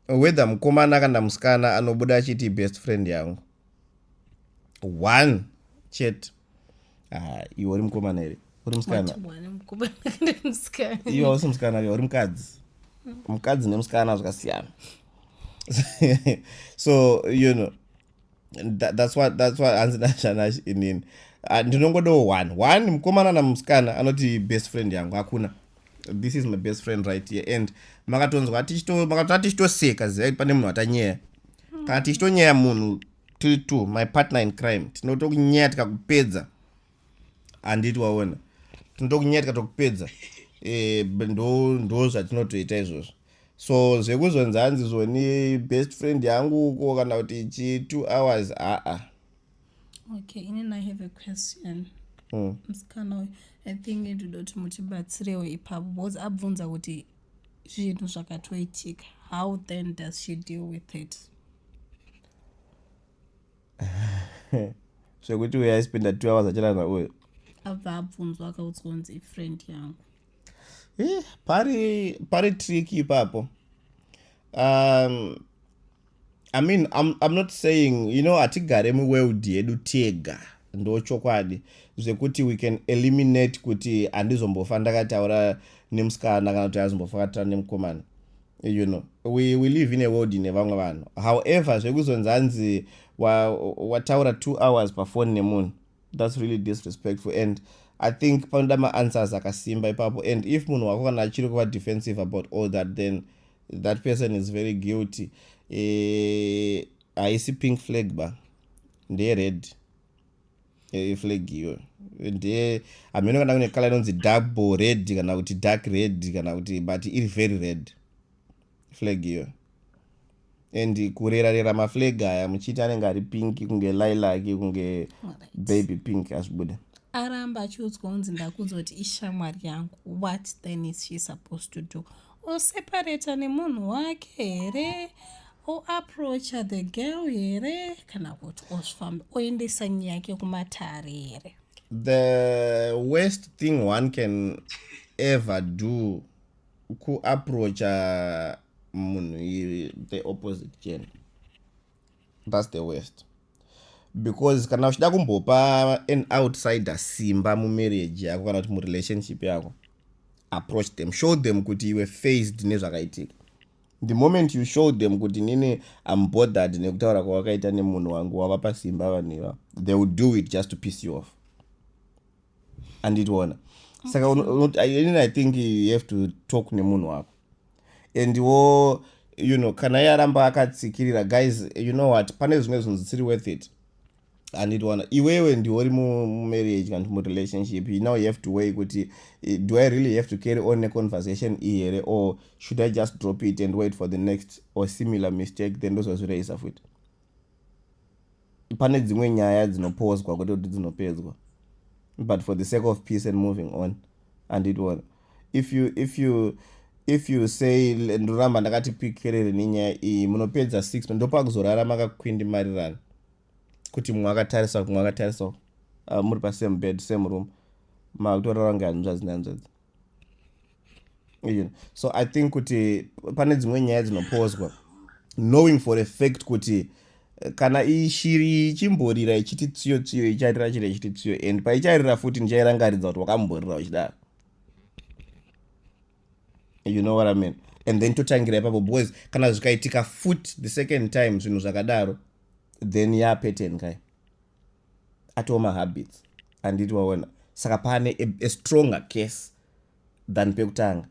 whether mukomana kana musikana anobuda achiti best friend yangu one chete ah, iwe uri mukomana here uri musikana iwe usi musikana iwe uri mukadzi mukadzi nemusikana zvakasiyana so you know That, that's what that's what hanzi nashanash inini ah, ndinongodawo one one mukomana namusikana anoti best friend yangu hakuna this is my best friend right here and makatonzwa makatoa tichitoseka zivai pane munhu atanyeya hmm. kana tichitonyeya munhu tiri two my partner in crime tinotonyeya tikakupedza handiti waona tinotokunyetka tokupedza e, ndo zvatinotoita izvozvo so zvekuzonzi hanzi zvoni best friend yangu uko kana kuti chi two hours aa okay inin i have a question hmm. musikana uyu i think ndoda kuti mutibatsirewo ipapo because abvunza kuti zvinhu zvakatoitika how then does she deal with it zvekuti uyo aispenda two hours achirana uyo abva abvunzwa akaudzwa kunzi ifriend yangu eh, pari pari trick ipapo um, i mean I'm, i'm not saying you know hatigare muworld yedu tega ndo chokwadi zvekuti we can eliminate kuti handizombofa ndakataura nemusikana kana kuti handizombofa kataura nemukomana you know we, we live in a world ine vamwe vanhu however zvekuzonzi hanzi wataura wa two hours pafoni nemunhu thats really disrespectful and i think panoda maanswers akasimba ipapo and if munhu wako kana achiri kuva defensive about all that then that person is very guilty eh, haisi e, pink flag ba ndeyered iflag eh, iyo ndiye hameno kana kune kala inonzi double red kana kuti dark red kana kuti but iri very red flag iyo and kurera rera maflag aya muchiti anenge ari pink kunge lilac kunge baby pink azvibude aramba achiudzwa unzi ndakunzwa kuti ishamwari yangu what then is she supposed to do osepareta nemunhu wake here oaproacha the girl here kana kuti ozvifamba oendesa nyaya yake kumatare here the worst thing one can ever do kuaproacha munhu the opposite gender thats the worst because kana uchida kumbopa an outsider simba mumarriage yako kana kuti murelationship yako approach them show them kuti iwe faced nezvakaitika the moment you show them kuti nini am bothered nekutaura kwawakaita nemunhu wangu wavapa simba vanhu iva they will do it just to piss you off anditiona saka inini i think you have to talk nemunhu wako and wo you know kana iye aramba akatsikirira guys you know what pane zvimwe zvinhu zvisiri worth it handitwana iwewe ndiwori mumarriage kana kuti murelationship you now you have to way kuti eh, do i really have to carry on neconversation iyi here or should i just drop it and wait for the next or similar mistake then ndozozvireyisa futi pane dzimwe nyaya dzinopozwa kwete kuti dzinopedzwa but for the sake of peace and moving on handitiona if you if you if you say ndoramba ndakati pikerere nenyaya iyi munopedza six ndopakuzorara makakwindimarirana kuti mumwe akatarisa kumwe akatarisa uh, muri pasame bed same room makutorara kunge hanzvadzi nhanzvadzi so i think kuti pane dzimwe nyaya dzinopozwa knowing for a fact kuti eh, kana ishiri ichimborira ichiti tsiyo tsiyo icharira chiro ichiti tsiyo and paicharira futi ndichairangaridza kuti wakamborira uchidaro you know what i mean and then totangira ipapo because kana zvikaitika foot the second time zvinhu zvakadaro then yapeten kai atoo mahabits anditi waona saka pane a, a stronger case than pekutanga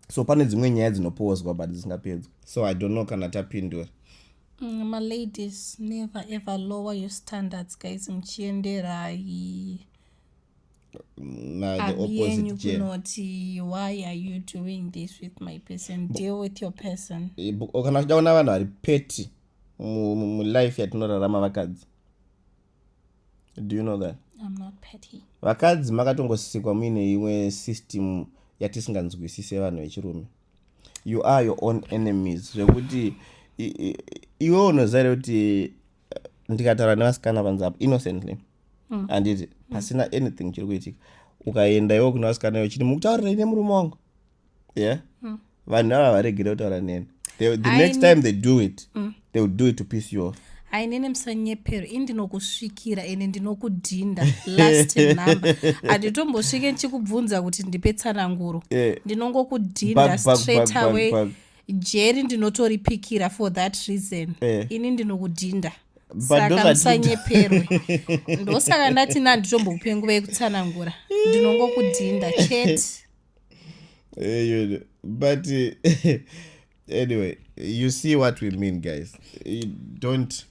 so pane dzimwe nyaya dzinopozwa but dzisingapedzwa so i don't know kana tapindura mm, maladies never ever lower your standards guys muchienderai yenyu kunoti why are you doing this with my person deal with your person eh, kana chidaona vanhu vari peti mulife yatinorarama vakadzi do you know that vakadzi makatongosikwa muine imwe system yatisinganzwisise vanhu vechirume you are your own enemies zvekuti iwe unoziva kuti eh, ndikataura nevasikana vanzi apo innocently mm. anditi mm. pasina anything chiri kuitika ukaenda iwo kuna vasikana iwo chiti mukutaurira ine murume wangu yeah mm. vanhu ava varegere kutaura neni the, the next time they do it mm. they will do it to piss you off ainene musanyepero ini ndinokusvikira ende ndinokudhinda last number handitombosvike ndichikubvunza kuti ndipe tsananguro eh. ndinongokudhinda straight away jeri ndinotoripikira for that reason eh. ini ndinokudhinda saka musanyeperwe ndosaka ndati nanditombokupenguvei kutsanangura ndinongokudhinda chete Eh, but eh, anyway you see what we mean guys you don't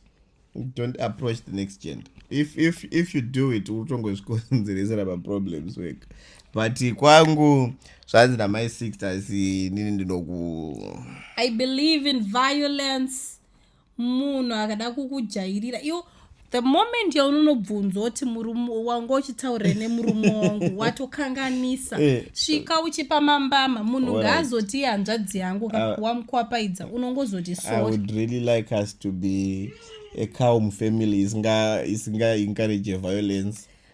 don't approach the next gender if if if you do it utongozvikonzeresa maproblems work but kwangu zvanzi namai six asi nini ndinoku i believe in violence munhu akada kukujairira iwo the moment yaunonobvunzwa kuti murume wanga uchitaurira nemurume wangu watokanganisa eh. svika uchipa mambama munhu ngaazoti hanzvadzi yangu ah. wamukwapaidza unongozoti soreally like us to be a cow mufamily isinga encourage violence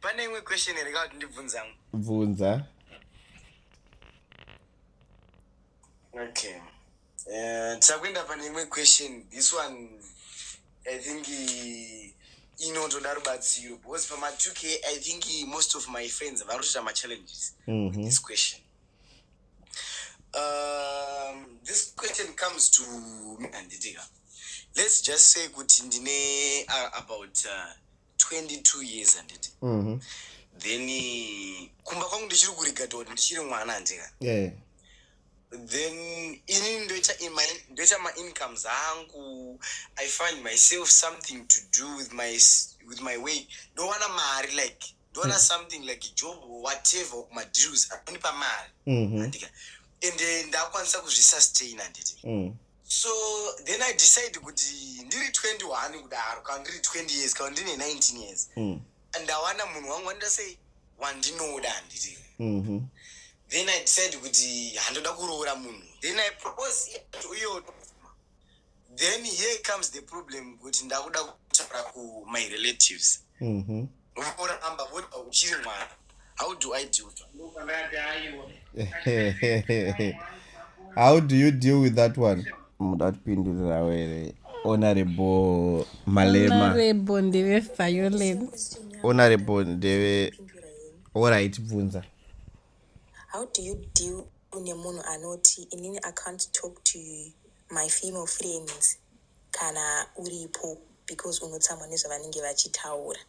pane imwe question here ka kuti ndibvunza mwe bvunza okay eh, tichakuenda pane imwe question this one i think inotoda rubatsiro because pama 2 k i think most of my friends vari kutoita machallenges mm -hmm. with mhm. this question um, this question comes to me anditika let's just say kuti ndine uh, about uh, 22 years handiti mm -hmm. then eh, kumba kwangu ndichiri kurigata kuti ndichiri mwana handika yeah. then ini ndoita ndoita maincomes angu i find myself something to do with my, with my way ndowana mari like ndowana mm. something like job or whatever madeals anonipa mari mm -hmm. handika ende ndakwanisa kuzvisustain handiti mm. so then i decide kuti ndiri 21 kudaro kana ndiri 20 years kana ndine 19 years mm. ndawana munhu wangu wandida sei wandinoda handiti mm -hmm. then i decide kuti handoda kuroora munhu then i propose uyo then here comes the problem kuti ndakuda kutaura kumyrelatives mm -hmm. Vanoramba voti uchiri mwana. How do I deal with that? How do you deal with that one? Muda kupindurira were. Honorable Malema. Honorable ndeve violence. Honorable ndeve all right bvunza. How do you deal nemunhu anoti inini I can't talk to my female friends? kana uripo because unotsamwa nezvavanenge vachitaura.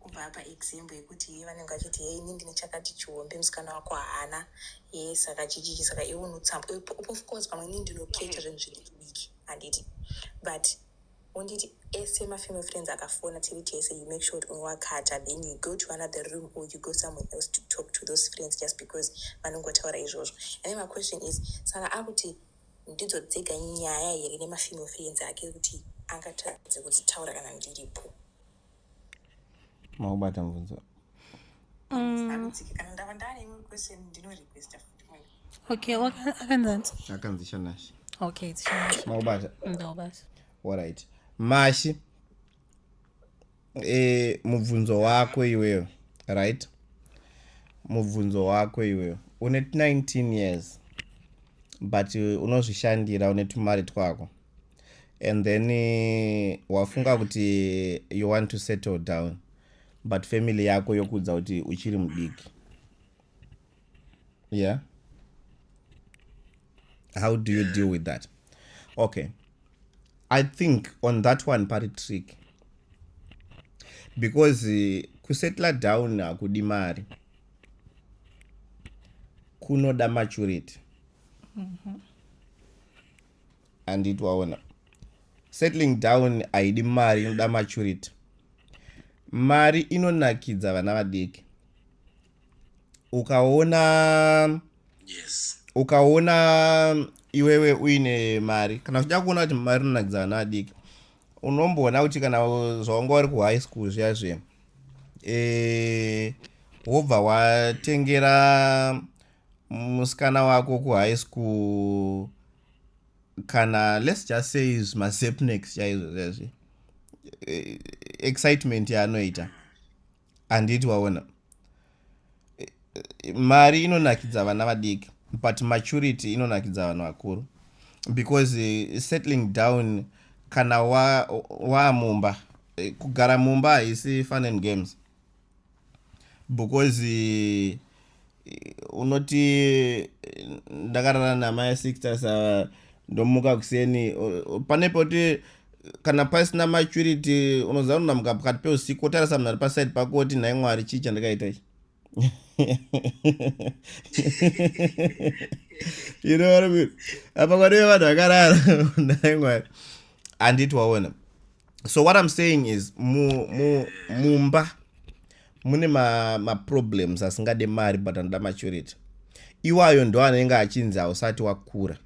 Kubva apa example yekuti ye vanenge vachiti ye ini ndine chakati chihombe musikana wako haana ye saka chichichi saka iwe unotsamwa Eh, p- of course pamwe ini ndinokecha zvinhu zvidikidiki handiti but unditi ese mafamily friends akafona tiri tese you make sure kuti unowakata then you go to another room or you go somewhere else to talk to those friends just because vanongotaura izvozvo and then my question is saka akuti Ndidzo dzega nyaya here nema female friends ake yekuti angatadze kudzitaura kana ndiripo. Maubata mubvunzo. Mm. Kana ndava ndane imwe question ndino requesta futi. Okay, akanzanzi. Akanzi Shanashi. Okay, it's Shanashi. Maubata. Ndobasa. All right. Mashi. e, mubvunzo wako iweyo right mubvunzo wako iweyo une 19 years but unozvishandira une tumari twako and then eh, wafunga kuti you want to settle down but family yako yokuudza kuti uchiri mudiki yeah how do you deal with that okay i think on that one pari trick because uh, kusetla down hakudi mari kunoda maturity mm-hmm. anditi waona settling down haidi mari inoda maturity mari inonakidza vana vadiki ukaona yes ukaona iwewe uine mari kana uchida kuona kuti mari inonakidza vana vadiki unomboona kuti kana zvaunga uri kuhigh school zviya zviya e, wobva watengera musikana wako kuhigh school kana let's just say mazepnex chaizvo zviya zviya e, excitement yaanoita yeah. handiti waona mari inonakidza vana vadiki but maturity inonakidza vanhu vakuru because eh, settling down kana waamumba wa eh, kugara mumba haisi fun and games because eh, unoti ndakarara namai sixtas ndomuka kuseni pane poti kana pasina maturity unoziva unonamuka pakati peusiku wotarisa munhu ari paside pako woti nhai mwari chii chandakaita ichi you know what I mean? apa kwaneve vanhu vakarara nhai mwari handiti waona so what i'm saying is mu, mu, mumba mune maproblems ma asingade mari but anoda maturity iwayo ndo anenge achinzi hausati wakura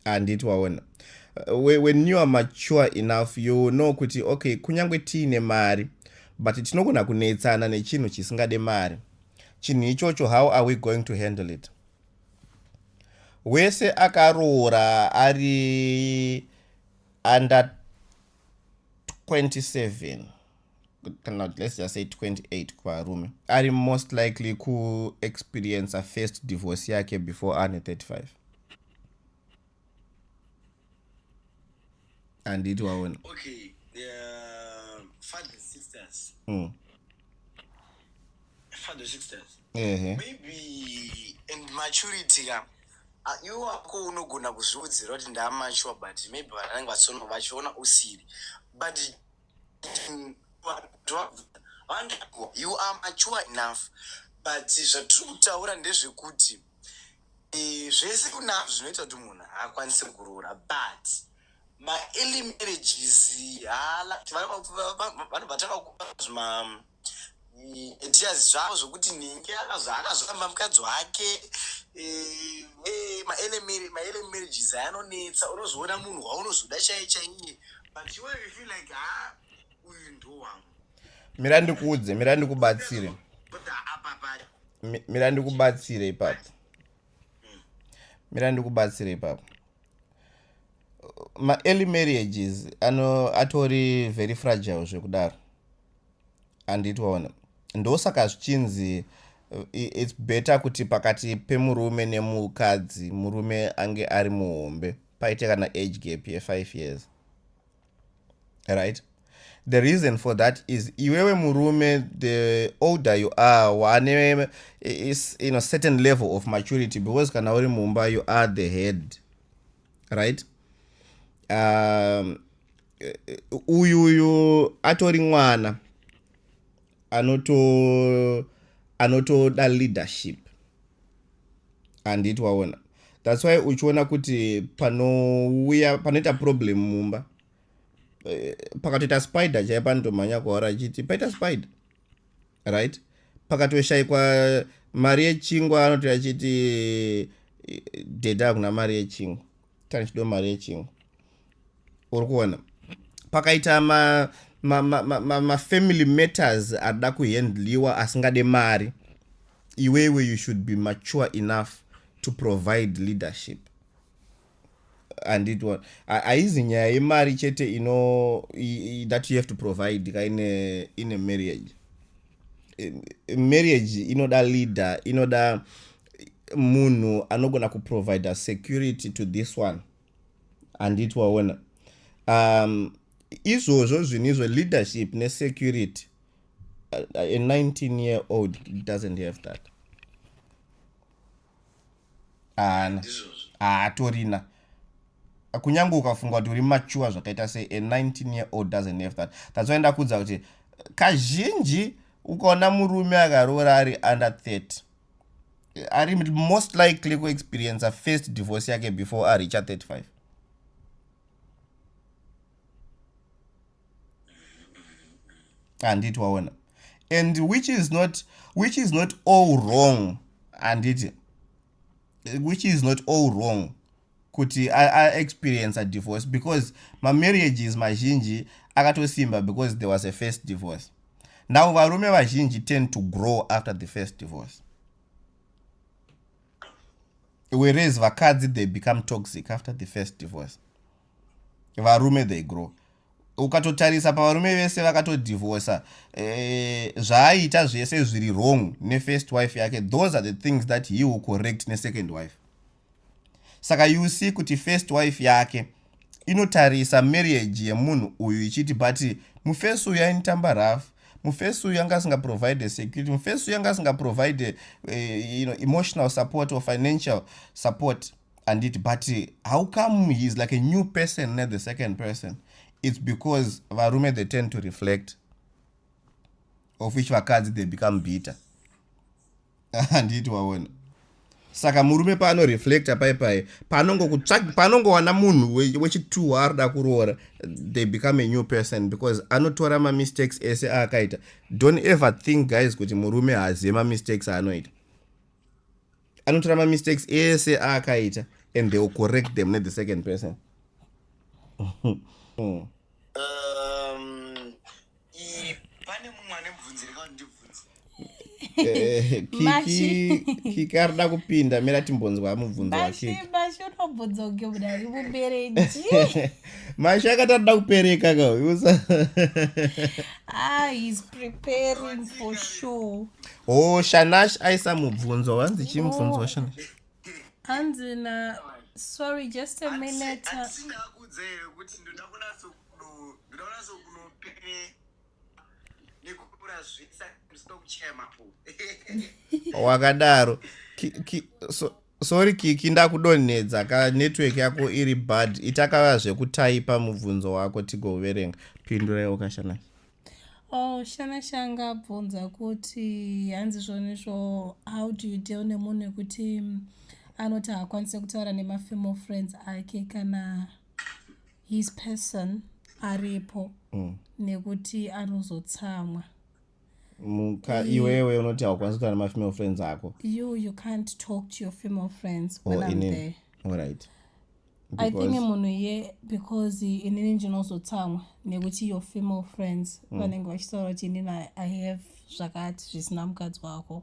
handiti waona uh, when you are mature enough you know kuti okay kunyange tiine mari but tinogona kunetsana nechinhu chisingade mari chinhu ichocho how are we going to handle it wese akaroora ari under 27 kana kuti let's just say 28 kuvarume ari most likely kuexperiencer first divorce yake before ane 35 anditi waona okay, uh, father sisters mm. father sisters uh -huh. maybe and maturity ka Ah, iwe wako unogona kuzviudzira kuti ndamature but maybe vanhu vanenge vasono vachiona usiri but you are mature enough but zvatiri kutaura ndezvekuti eh, zvese kunazvo zvinoita kuti munhu haakwanise kuroora but maearly marriages hala vanobva takakupa zvima tias zvavo zvokuti nhingi akazoramba mukadzi wake eh, eh, maelemarriages ayanonetsa unozoona munhu waunozoda chai chaiye but iwe you feel like ha ah, uyu ndo wangu mira ndikuudze mira ndikubatsire mira ndikubatsire ipapo hmm. mira ndikubatsire ipapo maearly marriages ano atori very fragile zvekudaro handiti waona ndosaka zvichinzi its better kuti pakati pemurume nemukadzi murume ange ari muhombe paite kana age gap yefive years right the reason for that is iwewe murume the older you are wane is you know certain level of maturity because kana uri mumba you are the head right um, eh, eh, uyu uyu atori mwana anoto anotoda leadership handiti waona thats why uchiona kuti panouya panoita problem mumba eh, pakatoita spider chaipa anotomhanya kuhora achiti paita spider right pakatoshayikwa mari yechingwa anoti achiti deda hakuna mari yechingwa tani chido mari yechingu uri kuona pakaita ma mafamily ma, ma, ma matters ada kuhandliwa asingade mari iwewe you should be mature enough to provide leadership anditwa haizi nyaya yemari chete ino that you have to provide ka ine ine marriage marriage inoda leader inoda munhu anogona kuprovider security to this one handiti waona um, izvozvo zvinhu izvo leadership nesecurity uh, uh, a 19 year old doesn't have that haana haatorina ah, kunyange ukafunga kuti uri machuwa zvakaita se a 19 year old doesn't have that that's why ndakuudza kuti kazhinji ukaona murume akaroora ari under 30 ari most likely kuexperiencer first divorce yake before aricha 35 handiti waona and which is not which is not all wrong handiti which is not all wrong kuti aexperience adivorce because mamarriages mazhinji akatosimba because there was a first divorce now varume vazhinji tend to grow after the first divorce whereas vakadzi they become toxic after the first divorce varume they grow ukatotarisa pavarume vese vakatodivorsa eh, zvaaiita zvese zviri wrong nefirst wife yake those are the things that he will correct nesecond wife Saka you see kuti first wife yake inotarisa marriage yemunhu uyu ichiti but mufesi uyu ainitamba rough mufesi uyu anga asingaprovide security mufesi uyu anga asingaprovide uh, eh, you know, emotional support or financial support anditi but how come he is like a new person ne the second person it's because varume they tend to reflect of which vakadzi they become bitter handiti waona saka murume paanoreflecta pai pai panongowana munhu wechituhu waaroda kuroora they become a new person because anotora mamistakes ese aakaita don't ever think guys kuti murume haazive mamistakes aanoita anotora mamistakes ese aakaita and they will correct them nethe second person hmm. pane mumwe ane mubvunzi reka ndibvunzi eh, kiki ari da kupinda mira timbonzwa mubvunzo wakikimasho unobvunzo nge mudari mubereji masho akati ari da kupereka ka ah, oh shanash aisa mubvunzo wanzi chii mubvunzo oh. washanash hanzi na sorry just a minute ndinoona sokunopene nekukura zvisa ndisina kuchaya mapo wakadaro Ki- ki- so- sorry kiki ndakudonhedza ka network yako iri bad itakava zvekutaipa mubvunzo wako tigoverenga pindura iwo kashanai Oh, shana shanga abvunza kuti hanzi zvoni zvo how do you deal nemunhu wekuti mm, anoti haakwanise kutaura nemafemo friends ake kana his person aripo mm. nekuti anozotsamwa muka iwewe unoti haukwanisi kutaura nemafemale friends ako you you can't talk to your female friends when oh, I'm there all right i think munhu ye because inini ndinozotsamwa nekuti your female friends mm. vanenge vachitaura kuti inini i have zvakati zvisina mukadzi wako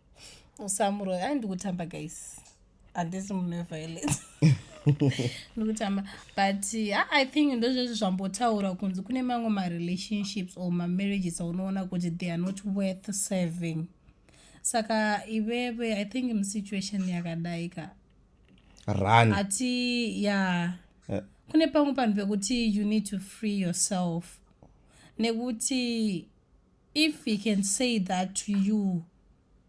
usamuroya ai ndikutamba guys handisi munhu weviolence ndikutamba but ah, i think ndozvezvi zvambotaura kunzi kune mamwe marelationships or mamarriages aunoona kuti they are not worth serving saka iveve i think musituation yakadai ka run ati ya yeah. yeah. kune pamwe panhu pekuti you need to free yourself nekuti if he can say that to you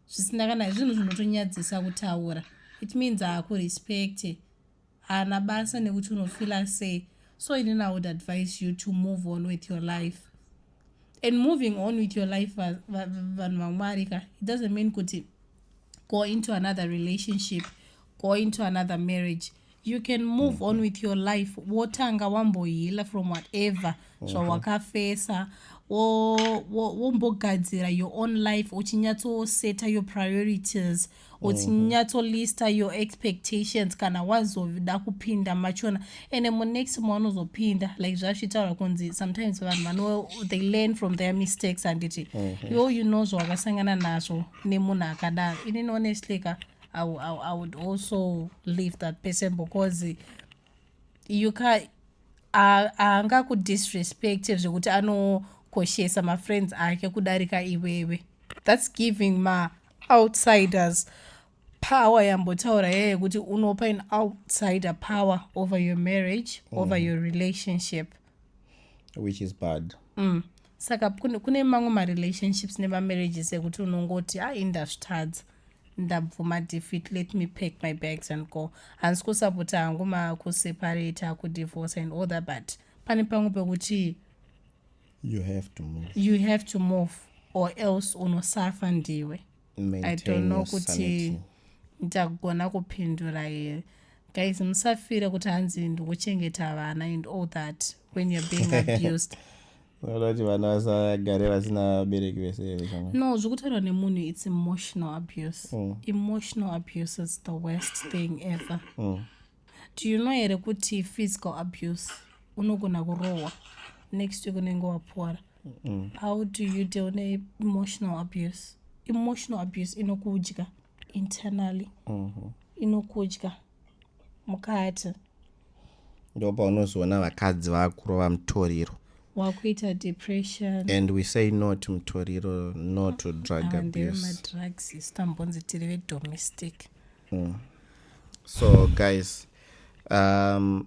zvisina kana zvinhu zvinotonyadzisa kutaura it means haakurespecte haana basa nekuti unofila sei so ini na would advise you to move on with your life and moving on with your life vanhu vamwari ka it doesn't mean kuti go into another relationship go into another marriage you can move on with your life wotanga wambohila from whatever mhm. zvawakafesa wombogadzira your own life uchinyatsoseta your priorities mhm. uchinyatsolister your expectations kana wazoda kupinda machona ende munext maunozopinda like zvazvitaura kunzi sometimes vanhu vano they learn from their mistakes handiti mhm. iwo you know zvawakasangana nazvo nemunhu akadaro inini honestly ka mm -hmm. I, I, I would also leave that person because you can haangakudisrespect zvekuti anokoshesa mafriends ake kudarika iwewe thats giving ma outsiders power yambotaura yeye yekuti unopa an outsider power over your marriage mm. over your relationship which is bad mm. saka kune mamwe marelationships nemamarriages ekuti unongoti ha ah, indazvitadza ndabvuma defeat let me pack my bags and go handisi kusapota hangu makuseparate akudivorce and all that but pane pamwe pekuti you have to move or else unosafa ndiwe i don't know kuti ndichagona kupindura here guys musafire kuti hanzi ndikuchengeta vana and all that when you're being abused kuti vana vasagare vasina vabereki vese no zvekutaurwa nemunhu its emotional abuse mm. emotional abuse is the worst thing ever mm. do you know here kuti physical abuse unogona kurohwa next week unenge wapora mm. how do you deal neemotional abuse emotional abuse inokudya internally mm -hmm. inokudya mukati ndo paunozoona vakadzi vakurova mutoriro wakuita depression and we say no to mutoriro no to drug abusemadrugs isu tambonzi tiri vedomestic mm. so guys um,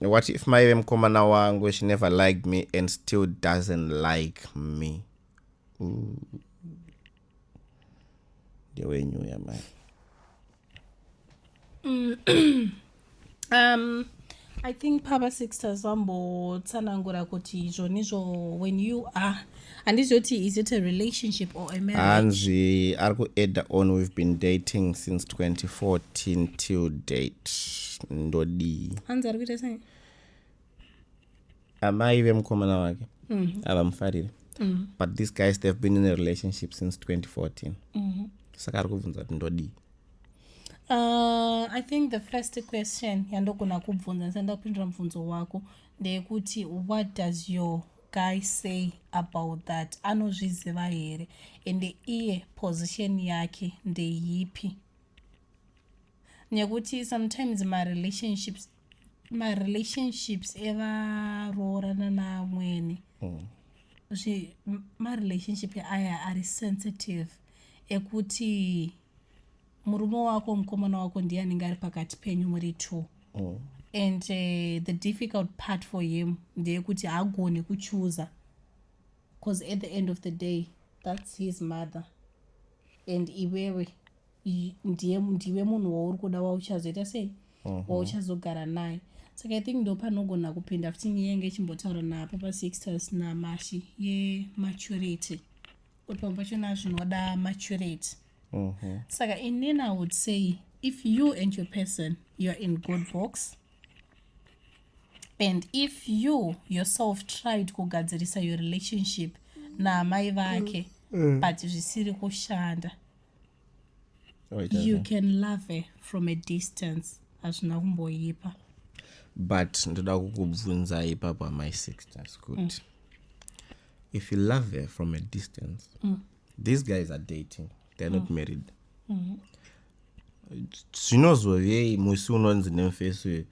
What if mai vemukomana wangu she never liked me and still doesn't like me? Ndewenyu uya mai. Mm. um, I think Papa Sixtus vambotsanangura kuti izvo nizvo when you are handizoti is it a relationship or a marriage hanzi ari kuadda on we've been dating since 2014 till date ndodii hanzi ari kuita sei amai vemukomana wake mhm. havamufarire mm -hmm. but these guys they've been in a relationship since 2014 mm -hmm. saka ari kubvunza kuti ndodii Uh, i think the first question yandogona kubvunza ndisati ndapindura mubvunzo wako ndeyekuti what does your guy say about that anozviziva here ende iye position yake ndeyipi nekuti sometimes marelationships marelationships evaroorana naamwene mm. marelationship aya ari sensitive ekuti murume wako mukomana wako ndiye anenge ari pakati penyu muri two mm. and uh, the difficult part for him ndeyekuti haagone kuchuza because at the end of the day that's his mother and iwewe ndiye ndiwe munhu wauri kuda wauchazoita sei mhm. wauchazogara naye saka i think ndo panogona kupinda futi nyaya yenge chimbotaura napo pasixtus namashi yematurity kuti pamwe pachona zvinoda maturity mm -hmm. saka inini i would say if you and your person you're in good books and if you yourself tried kugadzirisa your relationship naamai vake mm. mm. but zvisiri kushanda oh, you can love her from a distance hazvina kumboipa but ndoda kukubvunza ipapo amai sixtas kuti mm. if you love her from a distance mm. these guys are dating they're not mm. married mm-hmm. zvinozovei mm -hmm. musi unonzi nemufesi uyu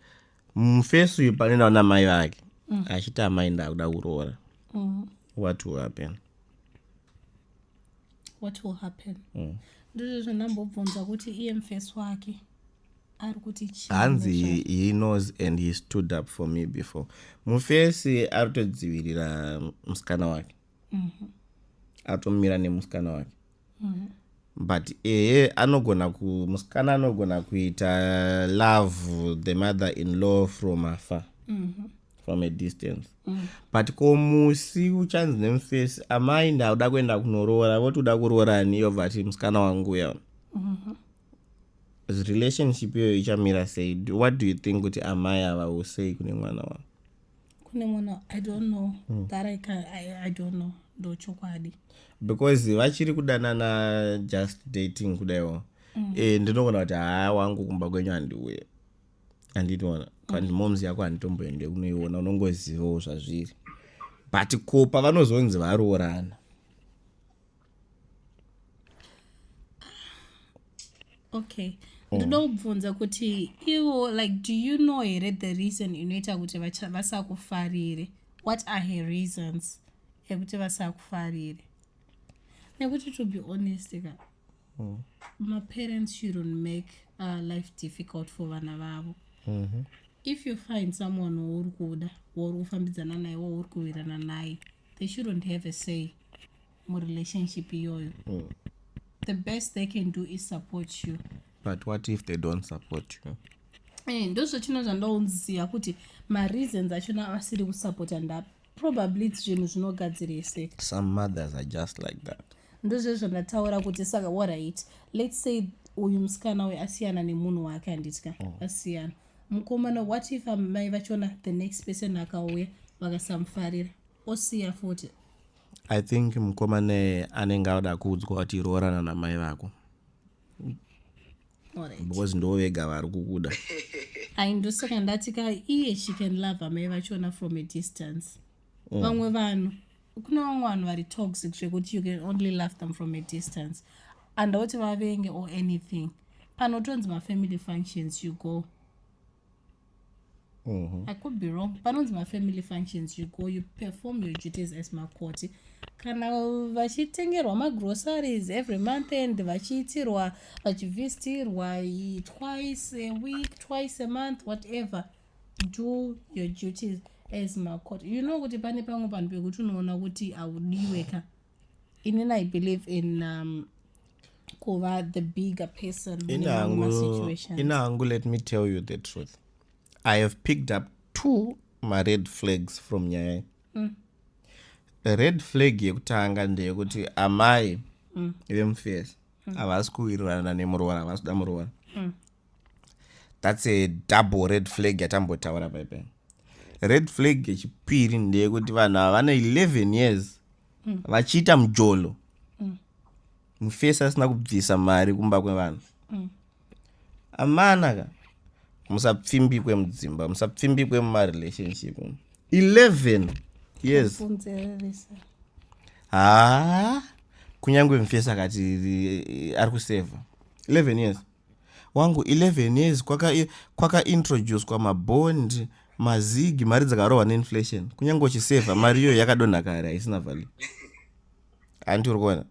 mufesi uyu pane naona mai vake mm. achiti amai ndakuda kuroora mm. what will happen what will happen mm. ndizvo zvandambobvunza kuti iye mufesi wake ari kuti hanzi he knows and he stood up for me before mufesi ari kutodzivirira musikana wake mm -hmm. atomira nemusikana wake mm -hmm. but eye anogona musikana anogona kuita love the mother in law from afar mm -hmm. from a distance mm -hmm. but ko musi uchanzi nemufesi amai ndauda kuenda kunoroora voti uda kuroora ani iyo vati musikana wangu uya mm -hmm relationship iyoyo ichamira sei what do you think kuti amai ava usei kune mwana wavo kune munhu i don't know mm. that I, can, I, i don't know ndochokwadi because vachiri kudanana just dating kudaiwo mm. e, ndinogona kuti haa wangu kumba kwenyu handiuye handitiona mm. kandi moms yako handitomboende kunoiona unongozivawo zvazviri but ko pavanozonzi varoorana okay mm. ndoda kubvunza kuti ivo like do you know here the reason inoita kuti vasakufarire what are her reasons ekuti vasakufarire nekuti to be honest ka mm. maparents shouldn't make uh, life difficult for vana vavo mm -hmm. if you find someone wauri kuda wauri kufambidzana naye wauri kuwirana naye mm -hmm. they shouldn't have a say murelationship iyoyo mm. the best they can do is support you but what if they don't support you eh, ndozvachino zvandaunzia kuti mareasons achona asiri kusupporta ndapi probably zvinhu zvinogadzirese some mothers are just like that ndozvezvo ndataura kuti saka waright let's say uyu musikana uyu asiyana nemunhu wake handitya mm. asiyana mm. mukomana what if amai vachona the next person akauya vakasamufarira osiya futi i think mukomana anenge auda kuudzwa kuti roorana namai vako because ndo vega vari kukuda aindosoka ndati ka iye she can love amai vachona from a distance mm. vamwe mm. vanhu kune vamwe vanhu vari toxic zvekuti you can only love them from a distance andauti vavenge or anything panotonzi mafamily functions you go mm -hmm. i could be wrong panonzi mafamily functions you go you perform your duties as makoti kana vachitengerwa magroceries every month and vachiitirwa vachivisitirwa twice a week twice a month whatever do your duties as macourt you know kuti pane pamwe panhu pekuti unoona kuti haudiwe ka inini i believe in um, kuva the bigger person in hangu let me tell you the truth i have picked up two mared flags from nyaya mm. red flag yekutanga ndeyekuti amai mm. vemufesi mm. havasi kuwirirana nemuroora havasi kuda muroora mm. thats a double red flag yatambotaura paipe red flag yechipiri ndeyekuti vanhu ava vane 11 years mm. vachiita mujolo mm. mufesi asina kubvisa mari kumba kwevanhu mm. amana ka musapfimbikwe mudzimba musapfimbikwe mumarelationship 11 years haa kunyange mufesi akati ari kuseva 11 years wangu 11 years kwaka kwaka introducwa mabond mazigi mari dzakarohwa neinflation kunyange uchisevha mari iyoyo yakadonha kare haisina value hanti uri kuona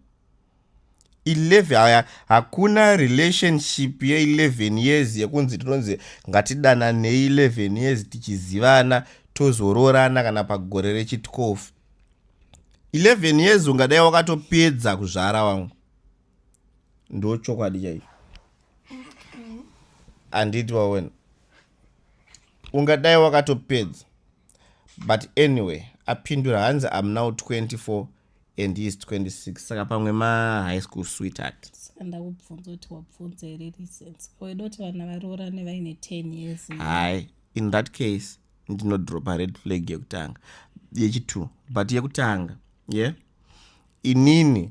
11 haya hakuna relationship ye11 years yekunzi tinonzi ngatidananei 11 years tichizivana tozoroorana kana pagore rechi12 11 years ungadai wakatopedza kuzvara wangu ndo chokwadi chaicho handiti wawena ungadai wakatopedza but anyway apindura hanzi am now 24 and he is 26 saka pamwe mahigh school sweetheart saka ndakubvunza kuti wabvunza here reasons weda kuti vana varoorane vaine 10 years hai in that case ndinodropa red flag yekutanga yechitu but yekutanga ye yeah? inini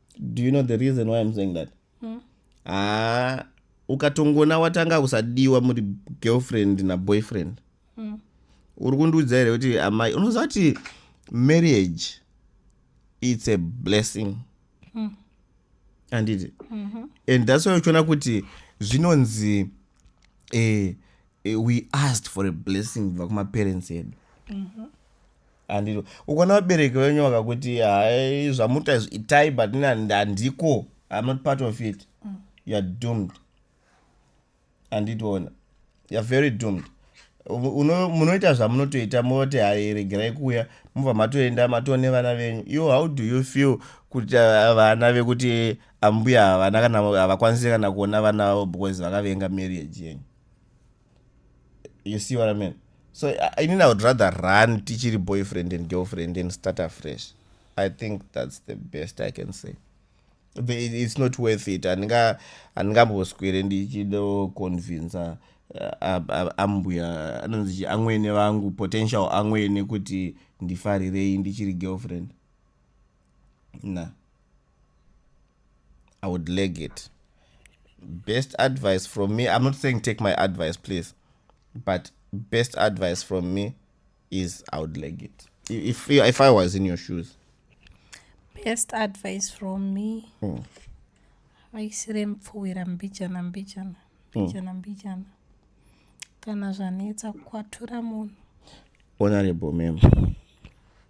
do you know the reason why im saying that hmm. haa mm. ukatongona watanga kusadiwa muri girlfriend naboyfriend mm. uri kundiudza here kuti amai unoziva kuti marriage its a blessing mm. anditi mm -hmm. and thats why uchiona kuti zvinonzi eh, eh, we asked for a blessing kubva kumaparents edu mm -hmm. Handito. Ukaona vabereki venyu vakakuti hai zvamuta izvi itai but nina handiko I'm not part of it. Mm. You are doomed. Handitoona. You are very doomed. Munoita zvamunotoita moti hai regerai kuuya mobva matoenda matone vana venyu. You how do you feel kuti uh, vana vekuti ambuya havana kana havakwanisi kana kuona vana vavo because vakavenga marriage yenyu. you see what i mean so inini i would rather run tichiri boyfriend and girlfriend and start afresh i think that's the best i can say it's not worth it handingamboswere ndichido convinsa uh, ambuya anonzi amwene vangu potential amwene kuti ndifarirei ndichiri girlfriend na i would leg it best advice from me i'm not saying take my advice please but best advice from me is i would leg it if, if i was in your shoes best advice from me mm. vaisire mupfuwira mbijana mbijana hmm. mbijana mbijana kana zvanetsa kwatura munhu honorable mem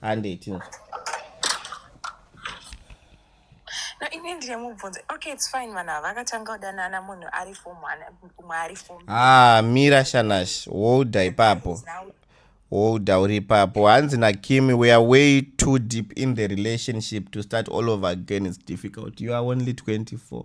handei tinzwa no ini ndine mubvunzo okay its fine vanhu ava vakatanga kudanana munhu ari fomumwe ari fom ah mira shanash wolda ipapo wolda uri ipapo hanzi nakimi we are way too deep in the relationship to start all over again its difficult you are only 24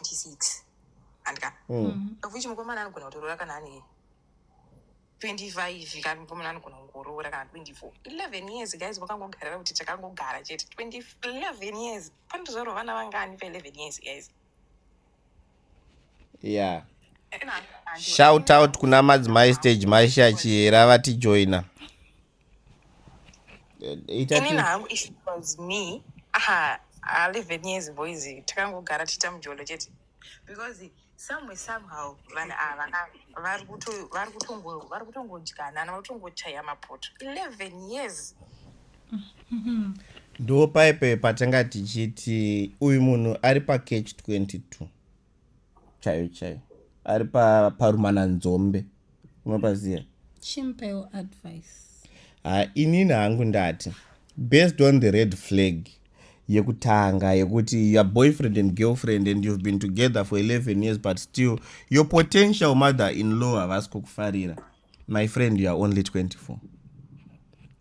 26 handika mm. of which mukomana anogona kutoroora kana ane 25 kana mukomana anogona kungoroora kana 24 11 years guys vakangogarira kuti takangogara chete 11 years panotozvarwa vana vangani pa 11 years guys yeah shout out kuna madzimai stage maisha chihera vatijoina inini hangu if it was me aha alive nyezi boys takangogara tiita mujolo chete because somewhere somehow vanhu ava vari kutongodyana ana vatongochaya mapoto 11 years ndo paipe patanga tichiti uyu munhu ari pacatch 22 chaiyo chaiyo ari parumana nzombe unopaziva chimpayo advice ha inini hangu ndati based on the red flag yekutanga yekuti your boyfriend and girlfriend and you've been together for 11 years but still your potential mother in law havasi kukufarira my friend you are only 24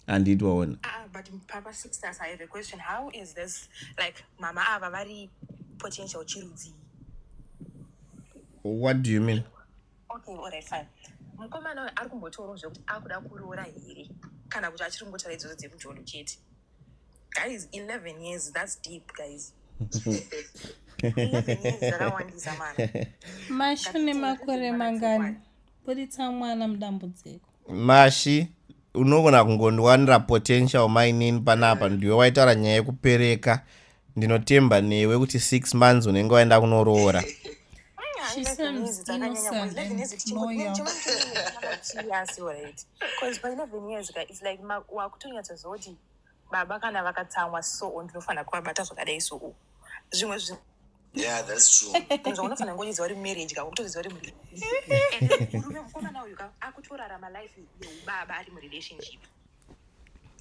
handiti waona ah, ah, but papa sisters i have a question how is this like mama ava vari potential chirudzii what do you mean okay all right fine mukomana uyo ari kumbotaurawo zvekuti akuda kuroora here kana kuti achiri kungotaura idzodzo dzemujolo chete guys 11 years thats deep guys mashune makore mangani Buritsa mwana mudambudziko. Mashi unogona kungondiwanira potential mainini panapa ndiwe waitaura nyaya yekupereka ndinotemba newe kuti six months unenge waenda kunoroora She seems innocent and loyal. baba kana vakatsamwa soo ndinofanira kuvabata zvakadai soo zvimwe zvi Yeah, that's true. zvaunofanira ngoziva uri marriage ka ukutoziva uri muri- And murume mukomana uyu ka akutorarama life yeubaba ari murelationship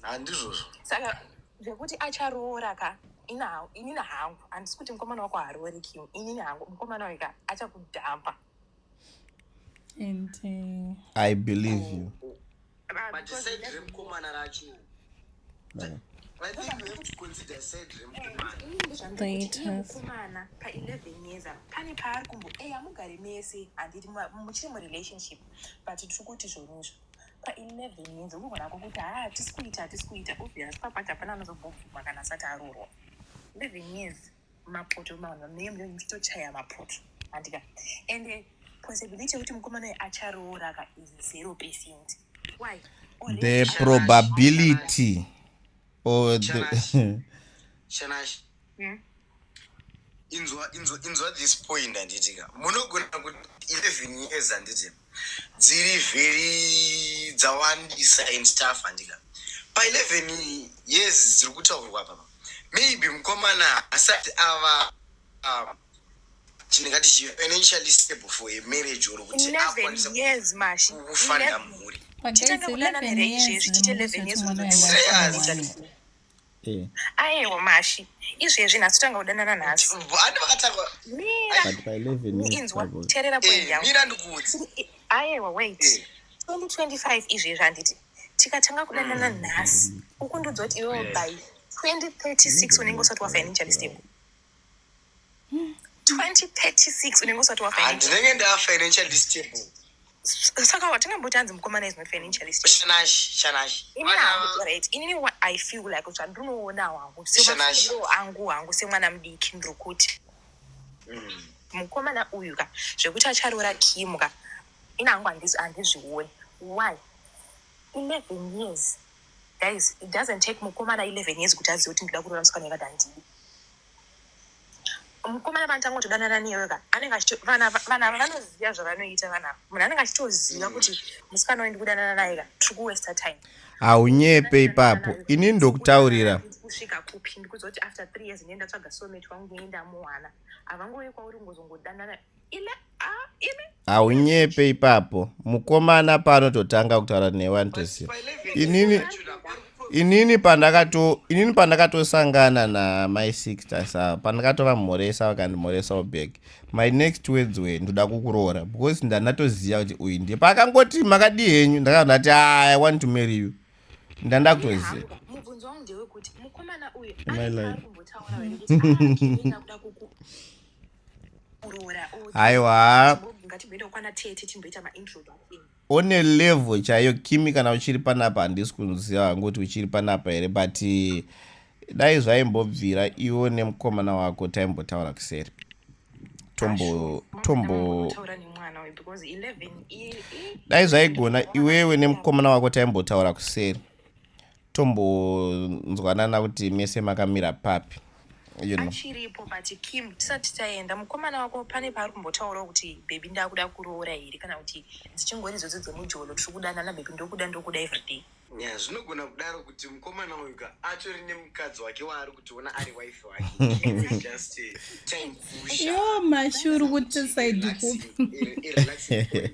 Handizvozvo. saka zvekuti acharoora ka ina- inini hangu handisi kuti mukomana wako haaroori kim inini hangu mukomana uyu ka achakudhampa and uh, i believe you but said remkomana racho like, I think you have to consider said remkomana pa 11 years pane paari kumbo eya eh, mugare mese handiti muchiri murelationship but tiri kuti zvonizvo pa 11 years unogona ko kuti haa ah, tisi kuita tisi kuita obvious papati hapana anozobobvuma kana asati arorwa 11 years mapoto mavanhu vamnenge mnenge muchitochaya mapoto andika and eh, possibility yekuti mukomana uyu acharoora ka is zero percent why the probability or the shanash hmm? inzwa inzwa inzwa this point anditika munogona kuti 11 years anditi dziri very dzawandisa and staff handika pa 11 years dziri kutaurwa papa maybe mukomana asati ava um, tinengati financially stable for a marriage or kuti 11 akwanisa years mashi kufanda 11 mhuri But guys, Chitanga kudana 11 here years izvezvi, chite 11 ndinoziva kuti years mwana unozoita wanga Serious? achirwara. Eh. ayewo mashi izvezvi nhasi tanga kudanana nhasi inzwa terera eh, point yangu ayewa wait 2025 eh. izvezvi handiti tikatanga kudanana mm. nhasi uku ndudzoti iwewo by 2036 unenge usati wafinancialist yangu 2036 unenge usati wafa Ah, ndinenge ndava financially stable saka watingamboti anzi mukomana is not financially stable shanashi shanashi Ini Vana- hangu, right, inini what i feel like kuti andinoona hangu Shanashi. semafiro angu hangu semwana mudiki ndiri kuti Mm. mukomana uyu ka zvekuti acharoora kim ka ini hangu handis- handizvioni why 11 years Guys it doesn't take mukomana 11 years kuti azive kuti ndikuda kuroora musikana yekati handidi. Mukomana vanotanga kutodanana newe ka anenge achito vana vana vanoziva zvavanoita vana munhu anenge achitoziva kuti musikana uyu ndikudanana naye ka tiri kuwesta time. Haunyepe ipapo ini ndokutaurira. Kusvika kupi ndikuziva kuti after three years ndinenda tsvaga soulmate wangu ndinenda muwana havangouye kwauri ngozongodanana. haunyepe ipapo mukomana paanototanga kutaura newe anotosiya inini inini pandakato inini pandakatosangana na my sister sa pandakatova mhoresa vakandimhoresa obag my next words way ndoda kukuroora because ndanatoziva kuti uyu ndiye paakangoti makadii henyu ndakabva ndati i want to marry you ndanda kutoziva aiwa one level chaiyo kimi kana uchiri panapa handisi kuziva hangu kuti uchiri panapa here but dai zvaimbobvira iwo nemukomana wako taimbotaura kuseri tombo tombo dai zvaigona iwewe nemukomana wako taimbotaura kuseri tombonzwanana kuti mese makamira papi you know. achiripo but kim tisati taenda mukomana wako pane paari kumbotaurawo kuti bhebi ndakuda kuroora here kana kuti dzichingori idzodzo dzemujolo tiri kudanana bhebi ndokuda ndokuda everyday Yeah, zvinogona kudaro kuti mukomana uyu ka atori nemukadzi wake waari kutiona ari wife wake He is just eh, time pusher. yo mashuru kuti saidi kupi Relaxing point.